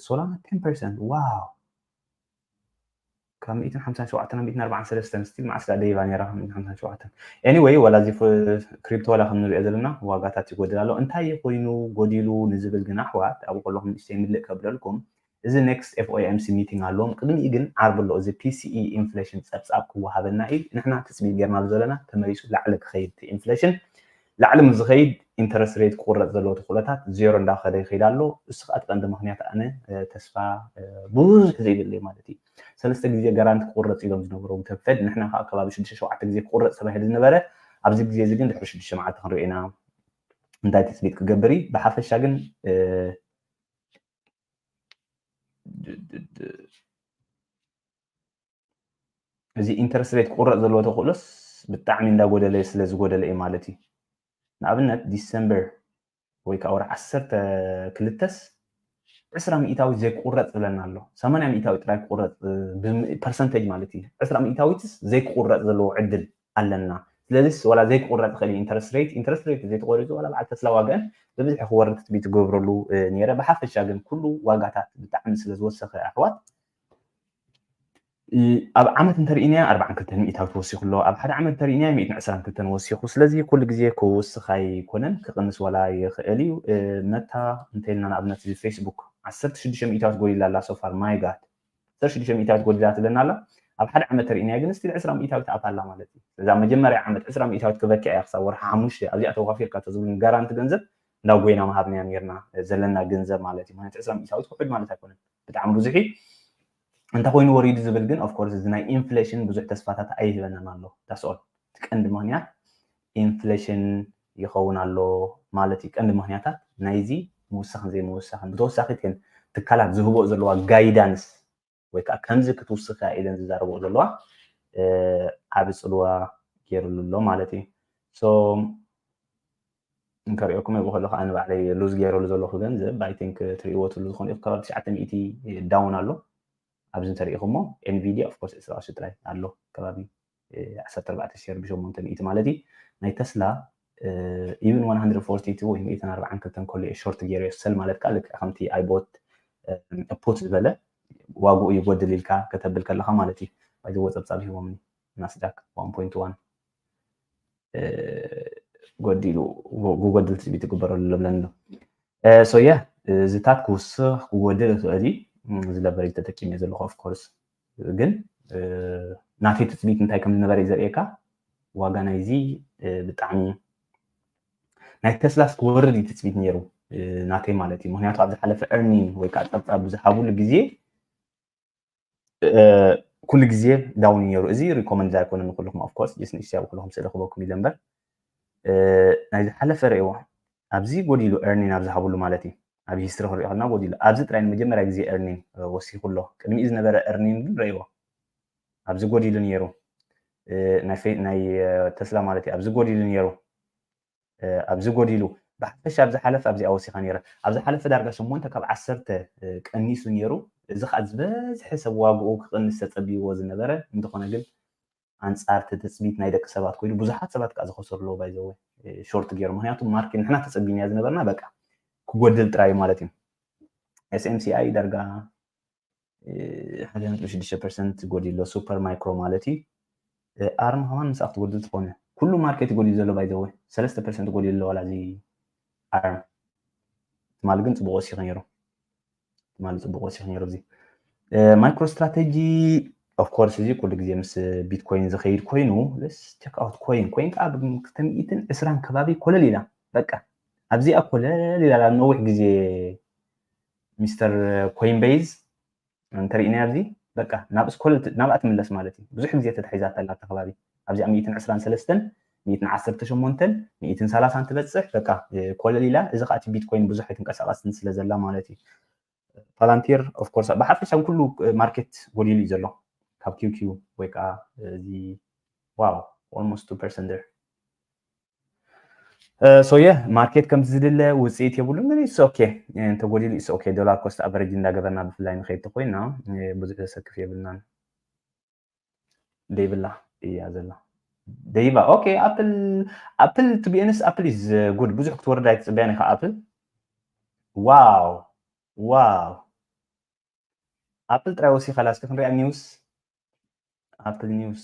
[SPEAKER 1] ሶላና 10% ዋው ካብ 157 ናብ 143 ስቲል መዓስ ዳ ደይባ ነራ 157 ኤኒዌይ ዋላ እዚ ክሪፕቶ ዋላ ከም ንሪኦ ዘለና ዋጋታት ይጎድል ኣሎ እንታይ ኮይኑ ጎዲሉ ንዝብል ግን ኣሕዋት ኣብኡ ከለኹም ንእሽተይ ምልእ ከብለልኩም እዚ ኔክስት ኤፍኦኤምሲ ሚቲንግ ኣለዎም ቅድሚኡ ግን ዓርቢ ኣሎ እዚ ፒሲኢ ኢንፍሌሽን ፀብፃብ ክወሃበና እዩ ንሕና ትፅቢት ጌርናሉ ዘለና ተመሊሱ ላዕሊ ክኸይድ እቲ ኢንፍሌሽን ላዕሊ ምስ ዝኸይድ ኢንተረስት ሬት ክቑረፅ ዘለዎ ተኽእሎታት ዜሮ እንዳኸደ ይኸይድ ኣሎ እሱ ከዓ እቲ ቀንዲ ምኽንያት ኣነ ተስፋ ብዙሕ ዘይብለይ ማለት እዩ ሰለስተ ግዜ ጋራንቲ ክቑረፅ ኢሎም ዝነበሩ እቶም ፌድ ንሕና ከዓ ከባቢ ሽዱሽተ ሸውዓተ ግዜ ክቑረፅ ተባሂሉ ዝነበረ ኣብዚ ግዜ እዚ ግን ድሕሪ ሽዱሽተ መዓልቲ ክንሪኦ ኢና እንታይ ትፅቢት ክገብር እዩ ብሓፈሻ ግን እዚ ኢንተረስት ሬት ክቁረፅ ዘለዎ ተኽእሎስ ብጣዕሚ እንዳጎደለ ስለ ዝጎደለ እዩ ማለት እዩ ንኣብነት ዲሰምበር ወይ ከዓ ወር ዓሰርተ ክልተስ ዕስራ ሚእታዊ ዘይክቁረፅ ዝብለና ኣሎ ሰማንያ ሚእታዊ ጥራይ ክቁረፅ ፐርሰንተጅ ማለት እዩ ዕስራ ሚእታዊትስ ዘይክቁረፅ ዘለዎ ዕድል ኣለና ስለዚስ ዋላ ዘይክቁረጽ ይኽእል እዩ ኢንተረስት ሬት ኢንተረስት ሬት ዘይተቆሪጹ ዋላ በዓል ተስላ ዋጋን ብብዝሒ ክወርድ ትጽቢት ዝገብረሉ ነይረ ብሓፈሻ ግን ኩሉ ዋጋታት ብጣዕሚ ስለ ዝወሰኸ ኣሕዋት ኣብ ዓመት እንተርእናያ 42 ሚእታዊ ተወሲኹ ኣሎ ኣብ ሓደ ዓመት እንተርእናያ 122 ወሲኹ ስለዚ ኩሉ ግዜ ክውስኽ ኣይኮነን ክቕንስ ዋላ ይኽእል እዩ መታ እንተኢልና ንኣብነት እዚ ፌስቡክ 16 ሚእታዊት ጎዲላ ኣላ ሶፋር ማይጋት ዓሰርተ ሽዱሽተ ሚእታዊት ጎዲላ ትብለና ኣላ ኣብ ሓደ ዓመት ተርእናያ ግን ስቲል ዕስራ ሚእታዊት ኣታ ኣላ ማለት እዩ ስለዚ ኣብ መጀመርያ ዓመት ዕስራ ሚእታዊት ክበኪያ እያ ክሳብ ወርሒ ሓሙሽተ ኣብዚኣ ተዋፊርካ ተዝብሉኒ ጋራንቲ ገንዘብ እንዳ ጎይና ምሃብናያ ነርና ዘለና ገንዘብ ማለት እዩ ምክንያቱ ዕስራ ሚእታዊት ክሑድ ማለት ኣይኮነን ብጣዕሚ ብዙሕ እዩ እንተኮይኑ ወሪዱ ዝብል ግን ኦፍኮርስ እዚ ናይ ኢንፍሌሽን ብዙሕ ተስፋታት ኣይህበናን ኣሎ ዳስኦል እቲ ቀንዲ ምክንያት ኢንፍለሽን ይኸውን ኣሎ ማለት እዩ። ቀንዲ ምኽንያታት ናይዚ ምውሳኽን ዘይምውሳኽን፣ ብተወሳኺት ግን ትካላት ዝህብኦ ዘለዋ ጋይዳንስ ወይ ከዓ ከምዚ ክትውስኽ እያ ኢለን ዝዛረብኦ ዘለዋ ዓቢ ጽልዋ ገይርሉ ኣሎ ማለት እዩ። ሶ እንከሪኦኩም እየ ከለኹ ኣነ ባዕለይ ሉዝ ገይረሉ ዘለኹ ገንዘብ ኣይ ቲንክ ትሪእዎ ትሉ ዝኾኑ ኢኹ ከባቢ ትሽዓተ ሚእቲ ዳውን ኣሎ ኣብዚ እንተሪኢኹሞ Nvidia of course ዕስራ ቅርሺ ጥራይ ኣሎ ከባቢ ዓሰርተ ኣርባዕተ ሼር ብሸሞንተ ሚእቲ ማለት እዩ ናይ ተስላ ኢቭን ዋን ሃንድረድ ፎርቲ ቱ ወይ ሚእትን ኣርባዓን ክልተን ከሎ እየ ሾርት ጌርዮ ሰል ማለት ከዓ ልክዕ ከምቲ ኣይቦት ፑት ዝበለ ዋግኡ ይጎድል ኢልካ ከተብል ከለካ ማለት እዩ ባይዘወ ፀብፃብ ሂቦምኒ ናስዳክ ዋን ፖይንት ዋን ጎዲሉ ጎጎድል ትፅቢት ይግበረሉ ለብለን ኣሎ ሶያ እዚታት ክውስኽ ክጎድል ይኽእል እዩ ዝለበረ ተጠቂመ ዘለኹ ኦፍኮርስ ግን ናተይ ትፅቢት እንታይ ከም ዝነበረ እዩ ዘርእየካ ዋጋ ናይዚ ብጣዕሚ ናይ ተስላስ ክወርድ እዩ ትፅቢት ነይሩ ናተይ ማለት እዩ ምክንያቱ ኣብ ዝሓለፈ ኤርኒን ወይ ከዓ ፀብፃብ ብዝሃብሉ ግዜ ኩሉ ግዜ ዳውን ነይሩ እዚ ሪኮመንድ ኣይኮነ ንኩልኩም ኣፍኮርስ ጀስ ንእሽተያ ኩልኩም ስለረክበኩም ኢለ እምበር ናይ ዝሓለፈ ርእይዎ ኣብዚ ጎዲሉ ኤርኒን ኣብ ዝሃብሉ ማለት እዩ ኣብ ሂስትሪ ክንሪኦ ከለና ጎዲሉ ኣብዚ ጥራይ ንመጀመርያ ግዜ ኤርኒን ወሲኹ ኣሎ ቅድሚኡ ዝነበረ ኤርኒን ግን ረእይዎ ኣብዚ ጎዲሉ ነይሩ ናይ ተስላ ማለት እዩ ኣብዚ ጎዲሉ ነይሩ ኣብዚ ጎዲሉ ብሓፈሻ ኣብ ዝሓለፈ ኣብዚኣ ወሲኻ ነይረ ኣብ ዝሓለፈ ዳርጋ ሸሞንተ ካብ ዓሰርተ ቀኒሱ ነይሩ እዚ ከዓ ዝበዝሐ ሰብ ዋግኡ ክቕንስ ተጸብይዎ ዝነበረ እንተኾነ ግን ኣንጻር እቲ ትጽቢት ናይ ደቂ ሰባት ኮይኑ ብዙሓት ሰባት ከዓ ዝኸሰሩ ኣለዎ ባይዘወ ሾርት ገይሩ ምክንያቱ ማርኬት ንሕና ተጸቢናያ ዝነበርና በቃ ክጎድል ጥራይ ማለት እዩ ኤስኤምሲኣይ ዳርጋ ሓደ ነጥቢ ሽዱሽተ ፐርሰንት ጎዲሉ ኣሎ ሱፐር ማይክሮ ማለት እዩ ኣርማ ከማን ምስ ኣብቲ ጎድል ትኾነ ኩሉ ማርኬት ጎዲሉ ዘሎ ባይዘወ ሰለስተ ፐርሰንት ጎዲሉ ኣሎ ዋላ እዚ ኣርም ትማሊ ግን ፅቡቅ ወሲኹ ነይሩ ትማሊ ፅቡቅ ወሲኹ ነይሩ እዚ ማይክሮ ስትራቴጂ ኦፍኮርስ እዚ ኩሉ ግዜ ምስ ቢትኮይን ዝኸይድ ኮይኑ ስ ቸክ ኣውት ኮይን ኮይን ከዓ ብክልተ ሚእትን ዕስራን ከባቢ ኮለል ኢላ በቃ ኣብዚኣ ኮለል ኢላ ኣብ ነዊሕ ግዜ ሚስተር ኮይንበይዝ እንተሪእናያ ኣብዚ በቃ ናብ ስኮልት ናብኣ ትምለስ ማለት እዩ ብዙሕ ግዜ ተታሒዛታ ኣላ ኣብቲ ከባቢ ኣብዚኣ ሚእትን ዕስራን ሰለስተን ሚእትን ዓሰርተ ሸሞንተን ሚእትን ሰላሳን ትበፅሕ በቃ ኮለል ኢላ እዚ ከዓ እቲ ቢትኮይን ብዙሕ ኣይትንቀሳቀስን ስለ ዘላ ማለት እዩ ፓላንቲር ኦፍኮርስ ብሓፈሻ ኩሉ ማርኬት ጎዲሉ እዩ ዘሎ ካብ ኪውኪው ወይ ከዓ እዚ ዋው ኦልሞስት ቱ ፐርሰንት ሶየ ማርኬት ከምቲ ዝድለ ውፅኢት የብሉን ግን ኢትስ ኦኬ እንተጎዲሉ ኢትስ ኦኬ ዶላር ኮስት ኣቨሬጅ እንዳገበርና ብፍላይ ንኸይድ ተኮይና ብዙሕ ዘሰክፍ የብልናን ደይብላ እያ ዘላ ደይባ ኦኬ ኣፕል ኣፕል ቱ ቢኤንስ ኣፕል ኢዝ ጉድ ብዙሕ ክትወርድ ኣይትፅበያን ኢኻ ኣፕል ዋው ዋው ኣፕል ጥራይ ወሲኻ ላስኪ ክንሪኣ ኒውስ ኣፕል ኒውስ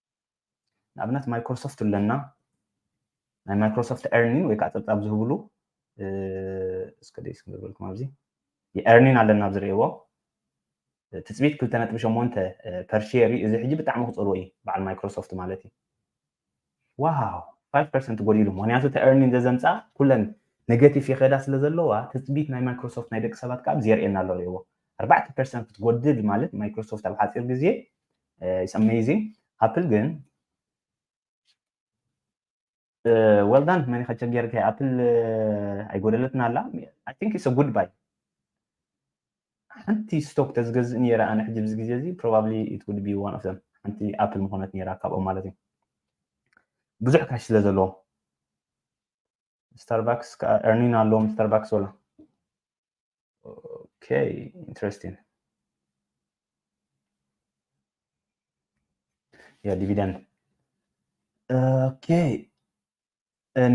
[SPEAKER 1] ንኣብነት ማይክሮሶፍት ኣለና ናይ ማይክሮሶፍት ኤርኒን ወይ ከዓ ፀብፃብ ዝህብሉ እስከ ደስ ክገብረልኩም ኣብዚ ኤርኒን ኣለና ኣብ ዝርእይዎ ትፅቢት ክልተ ነጥቢ ሸሞንተ ፐርሼር እዩ እዚ ሕጂ ብጣዕሚ ክፀልዎ እዩ በዓል ማይክሮሶፍት ማለት እዩ ዋው ፋይቭ ፐርሰንት ጎዲሉ ምክንያቱ እቲ ኤርኒን ዘዘምፃ ኩለን ኔጋቲቭ ይኸዳ ስለ ዘለዋ ትፅቢት ናይ ማይክሮሶፍት ናይ ደቂ ሰባት ከዓ ብዘርእየና ኣሎ ርእይዎ ኣርባዕተ ፐርሰንት ክትጎድል ማለት ማይክሮሶፍት ኣብ ሓፂር ግዜ ኢትስ ኣሜዚንግ ኣፕል ግን ወልዳን መን ከቸገርከ ኣፕል ኣይጎደለትና ኣላ ኣይ ቲንክ ኢትስ ጉድ ባይ ሓንቲ ስቶክ ተዝገዝእ ነይረ ኣነ ሕጂ ብዚ ግዜ እዚ ፕሮባብሊ ኢት ውድ ቢ ዋን ኦፍ ዘም ሓንቲ ኣፕል ምኾነት ነይራ ካብኦም ማለት እዩ ብዙሕ ካሽ ስለ ዘለዎ ስታርባክስ ከዓ ኤርኒን ኣለዎም ስታርባክስ ወላ ኦኬ ኢንትረስቲንግ ያ ዲቪደንድ ኦኬ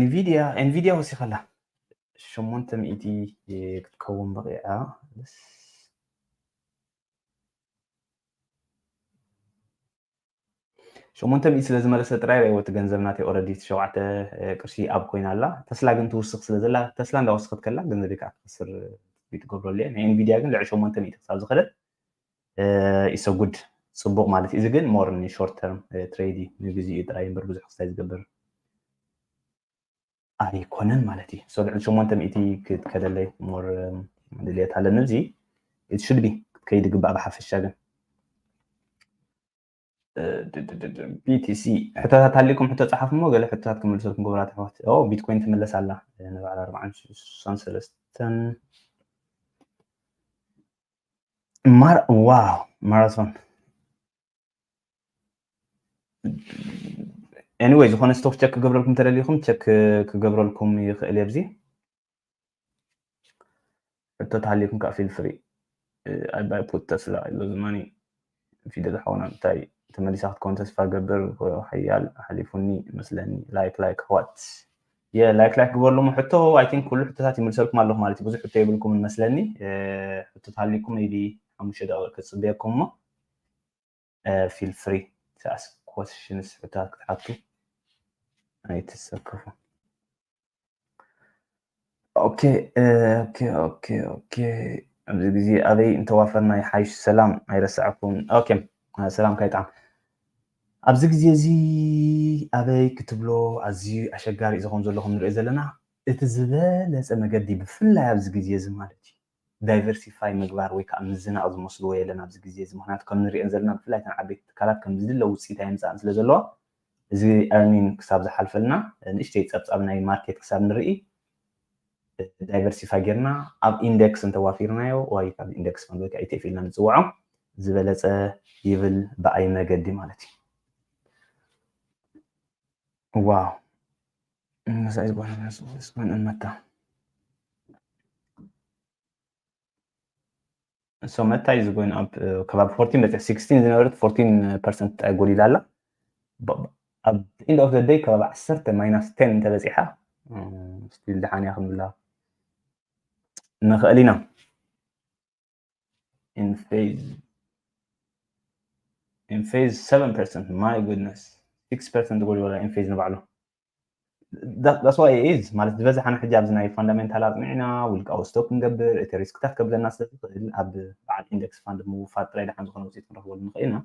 [SPEAKER 1] ንቪድያ ኤንቪድያ ወሲኻ ኣላ ሸሞንተ ሚእቲ ክትከውን በቂዓ ሸሞንተ ሚእቲ ስለ ዝመለሰ ጥራይ ርኣይዎ እቲ ገንዘብ ናተይ ኦረዲ ሸውዓተ ቅርሺ ኣብ ኮይና ኣላ ተስላ ግን ትውስኽ ስለ ዘላ ተስላ እንዳ ወሰኸት ከላ ገንዘበይ ከኣ ክኸስር ትጽቢት እገብረሉ እየ ናይ ኤንቪድያ ግን ልዕሊ ሸሞንተ ሚእቲ ክሳብ ዝኸደት ኢሰ uh, ጉድ ጽቡቕ ማለት እዩ እዚ ግን ሞር ንሾርት ተርም ትሬድ እዩ ንግዚኡ ጥራይ እምበር ብዙሕ ክስታይ ዝገብር ኣይኮነን ማለት እዩ so ልዕሊ ሸሞንተ ሚእቲ ክትከደለይ ሞር ድልየት ኣለኒ እዚ it should be ክትከይድ ይግባእ ብሓፈሻ ግን ቢቲሲ ሕቶታት ሃሊኩም ሕቶ ፀሓፍ እሞ ገለ ሕቶታት ክምልሰልኩም ክብራት ኣሕዋት ቢትኮይን ትምለስ ኣላ ንበዓል ኣርባዓን ሽሳን ሰለስተን ዋው ማራቶን ኤኒወይ ዝኾነ ስቶክ ቸክ ክገብረልኩም ተደሊኹም ቸክ ክገብረልኩም ይኽእል እየ ብዚ ሕቶ ተሃሊኩም ከዓ ፊል ፍሪ ኣይ ባይ ፑት ተስላ ኢሎ ዝማኒ ፊደል ሓውና እንታይ ተመሊሳ ክትከውን ተስፋ ገብር ሓያል ሓሊፉኒ መስለኒ ላይክ ላይክ ኣሕዋት የላይክ ላይክ ግበርሉሞ ሕቶ ኣይ ቲንክ ኩሉ ሕቶታት ይምልሰልኩም ኣለኹ ማለት እዩ ብዙሕ ሕቶ የብልኩምን መስለኒ ሕቶ ተሃሊኩም ቢ ሓሙሽተ ደቂቕ ክፅበየኩም እሞ ፊል ፍሪ ትኣስ ኮስሽንስ ሕቶታት ክትሓቱ ኣይትሰከፉ። ኦኬ ኦኬ ኦኬ ኦኬ ኣብዚ ግዜ ኣበይ እንተዋፈርና ይሓይሽ ሰላም ኣይረሳዕኩን ኦኬ ሰላም ካይጣዕም ኣብዚ ግዜ እዚ ኣበይ ክትብሎ ኣዝዩ ኣሸጋሪ እዚ ከም ዘለኹም ንሪኦ ዘለና እቲ ዝበለፀ መገዲ ብፍላይ ኣብዚ ግዜ እዚ ማለት እዩ ዳይቨርሲፋይ ምግባር ወይ ከኣ ምዝናቕ ዝመስልዎ የለን ኣብዚ ግዜ እዚ ምኽንያቱ ከም ንርእየን ዘለና ብፍላይ እተን ዓበይቲ ትካላት ከም ዝድለ ውጽኢት ኣየምጽኣን ስለ ዘለዋ እዚ earning ክሳብ ዝሓልፈልና ንእሽተይ ጸብጻብ ናይ ማርኬት ክሳብ ንርኢ ዳይቨርሲፋይ ጌርና ኣብ ኢንደክስ እንተዋፊርናዮ ዋይ ካብ ኢንደክስ ፈንድ ወይ ከኣ ኢቲኤፍ ኢልና ንጽውዖ ዝበለጸ ይብል ብኣይ መገዲ ማለት እዩ ዋው እነዛ ይባል ስማን እመታ እሶ መታ ኢዝ ጎይን ኣብ ከባቢ ፎርቲን በፂሕ ሲክስቲን ዝነበረት ፎርቲን ፐርሰንት ጥራይ ጎሊላ ኣላ ኣብ ኢንድ ኦፍ ዘደይ ከባቢ ዓሰርተ ማይናስ ቴን እንተበፂሓ ስቲል ድሓን እያ ክንብላ ንኽእል ኢና in phase in phase 7% my goodness 6% ጎል ወላ in phase ንባዕሉ That, that's why it is ማለት ዝበዝሓ ንሕጂ ኣብዚ ናይ ፋንዳሜንታል ኣፅኒዕና ውልቃዊ ስቶክ ክንገብር እቲ ሪስክታት ከብለና ስለ ዝኽእል ኣብ በዓል ኢንደክስ ፋንድ ምውፋር ጥራይ ድሓን ዝኾነ ውፅኢት ክንረኽበሉ ንኽእል ኢና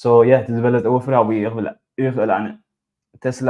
[SPEAKER 1] ሶ ያ እቲ ዝበለፀ ወፍሪ ኣብኡ እዩ ክብል ይኽእል ኣነ ተስላ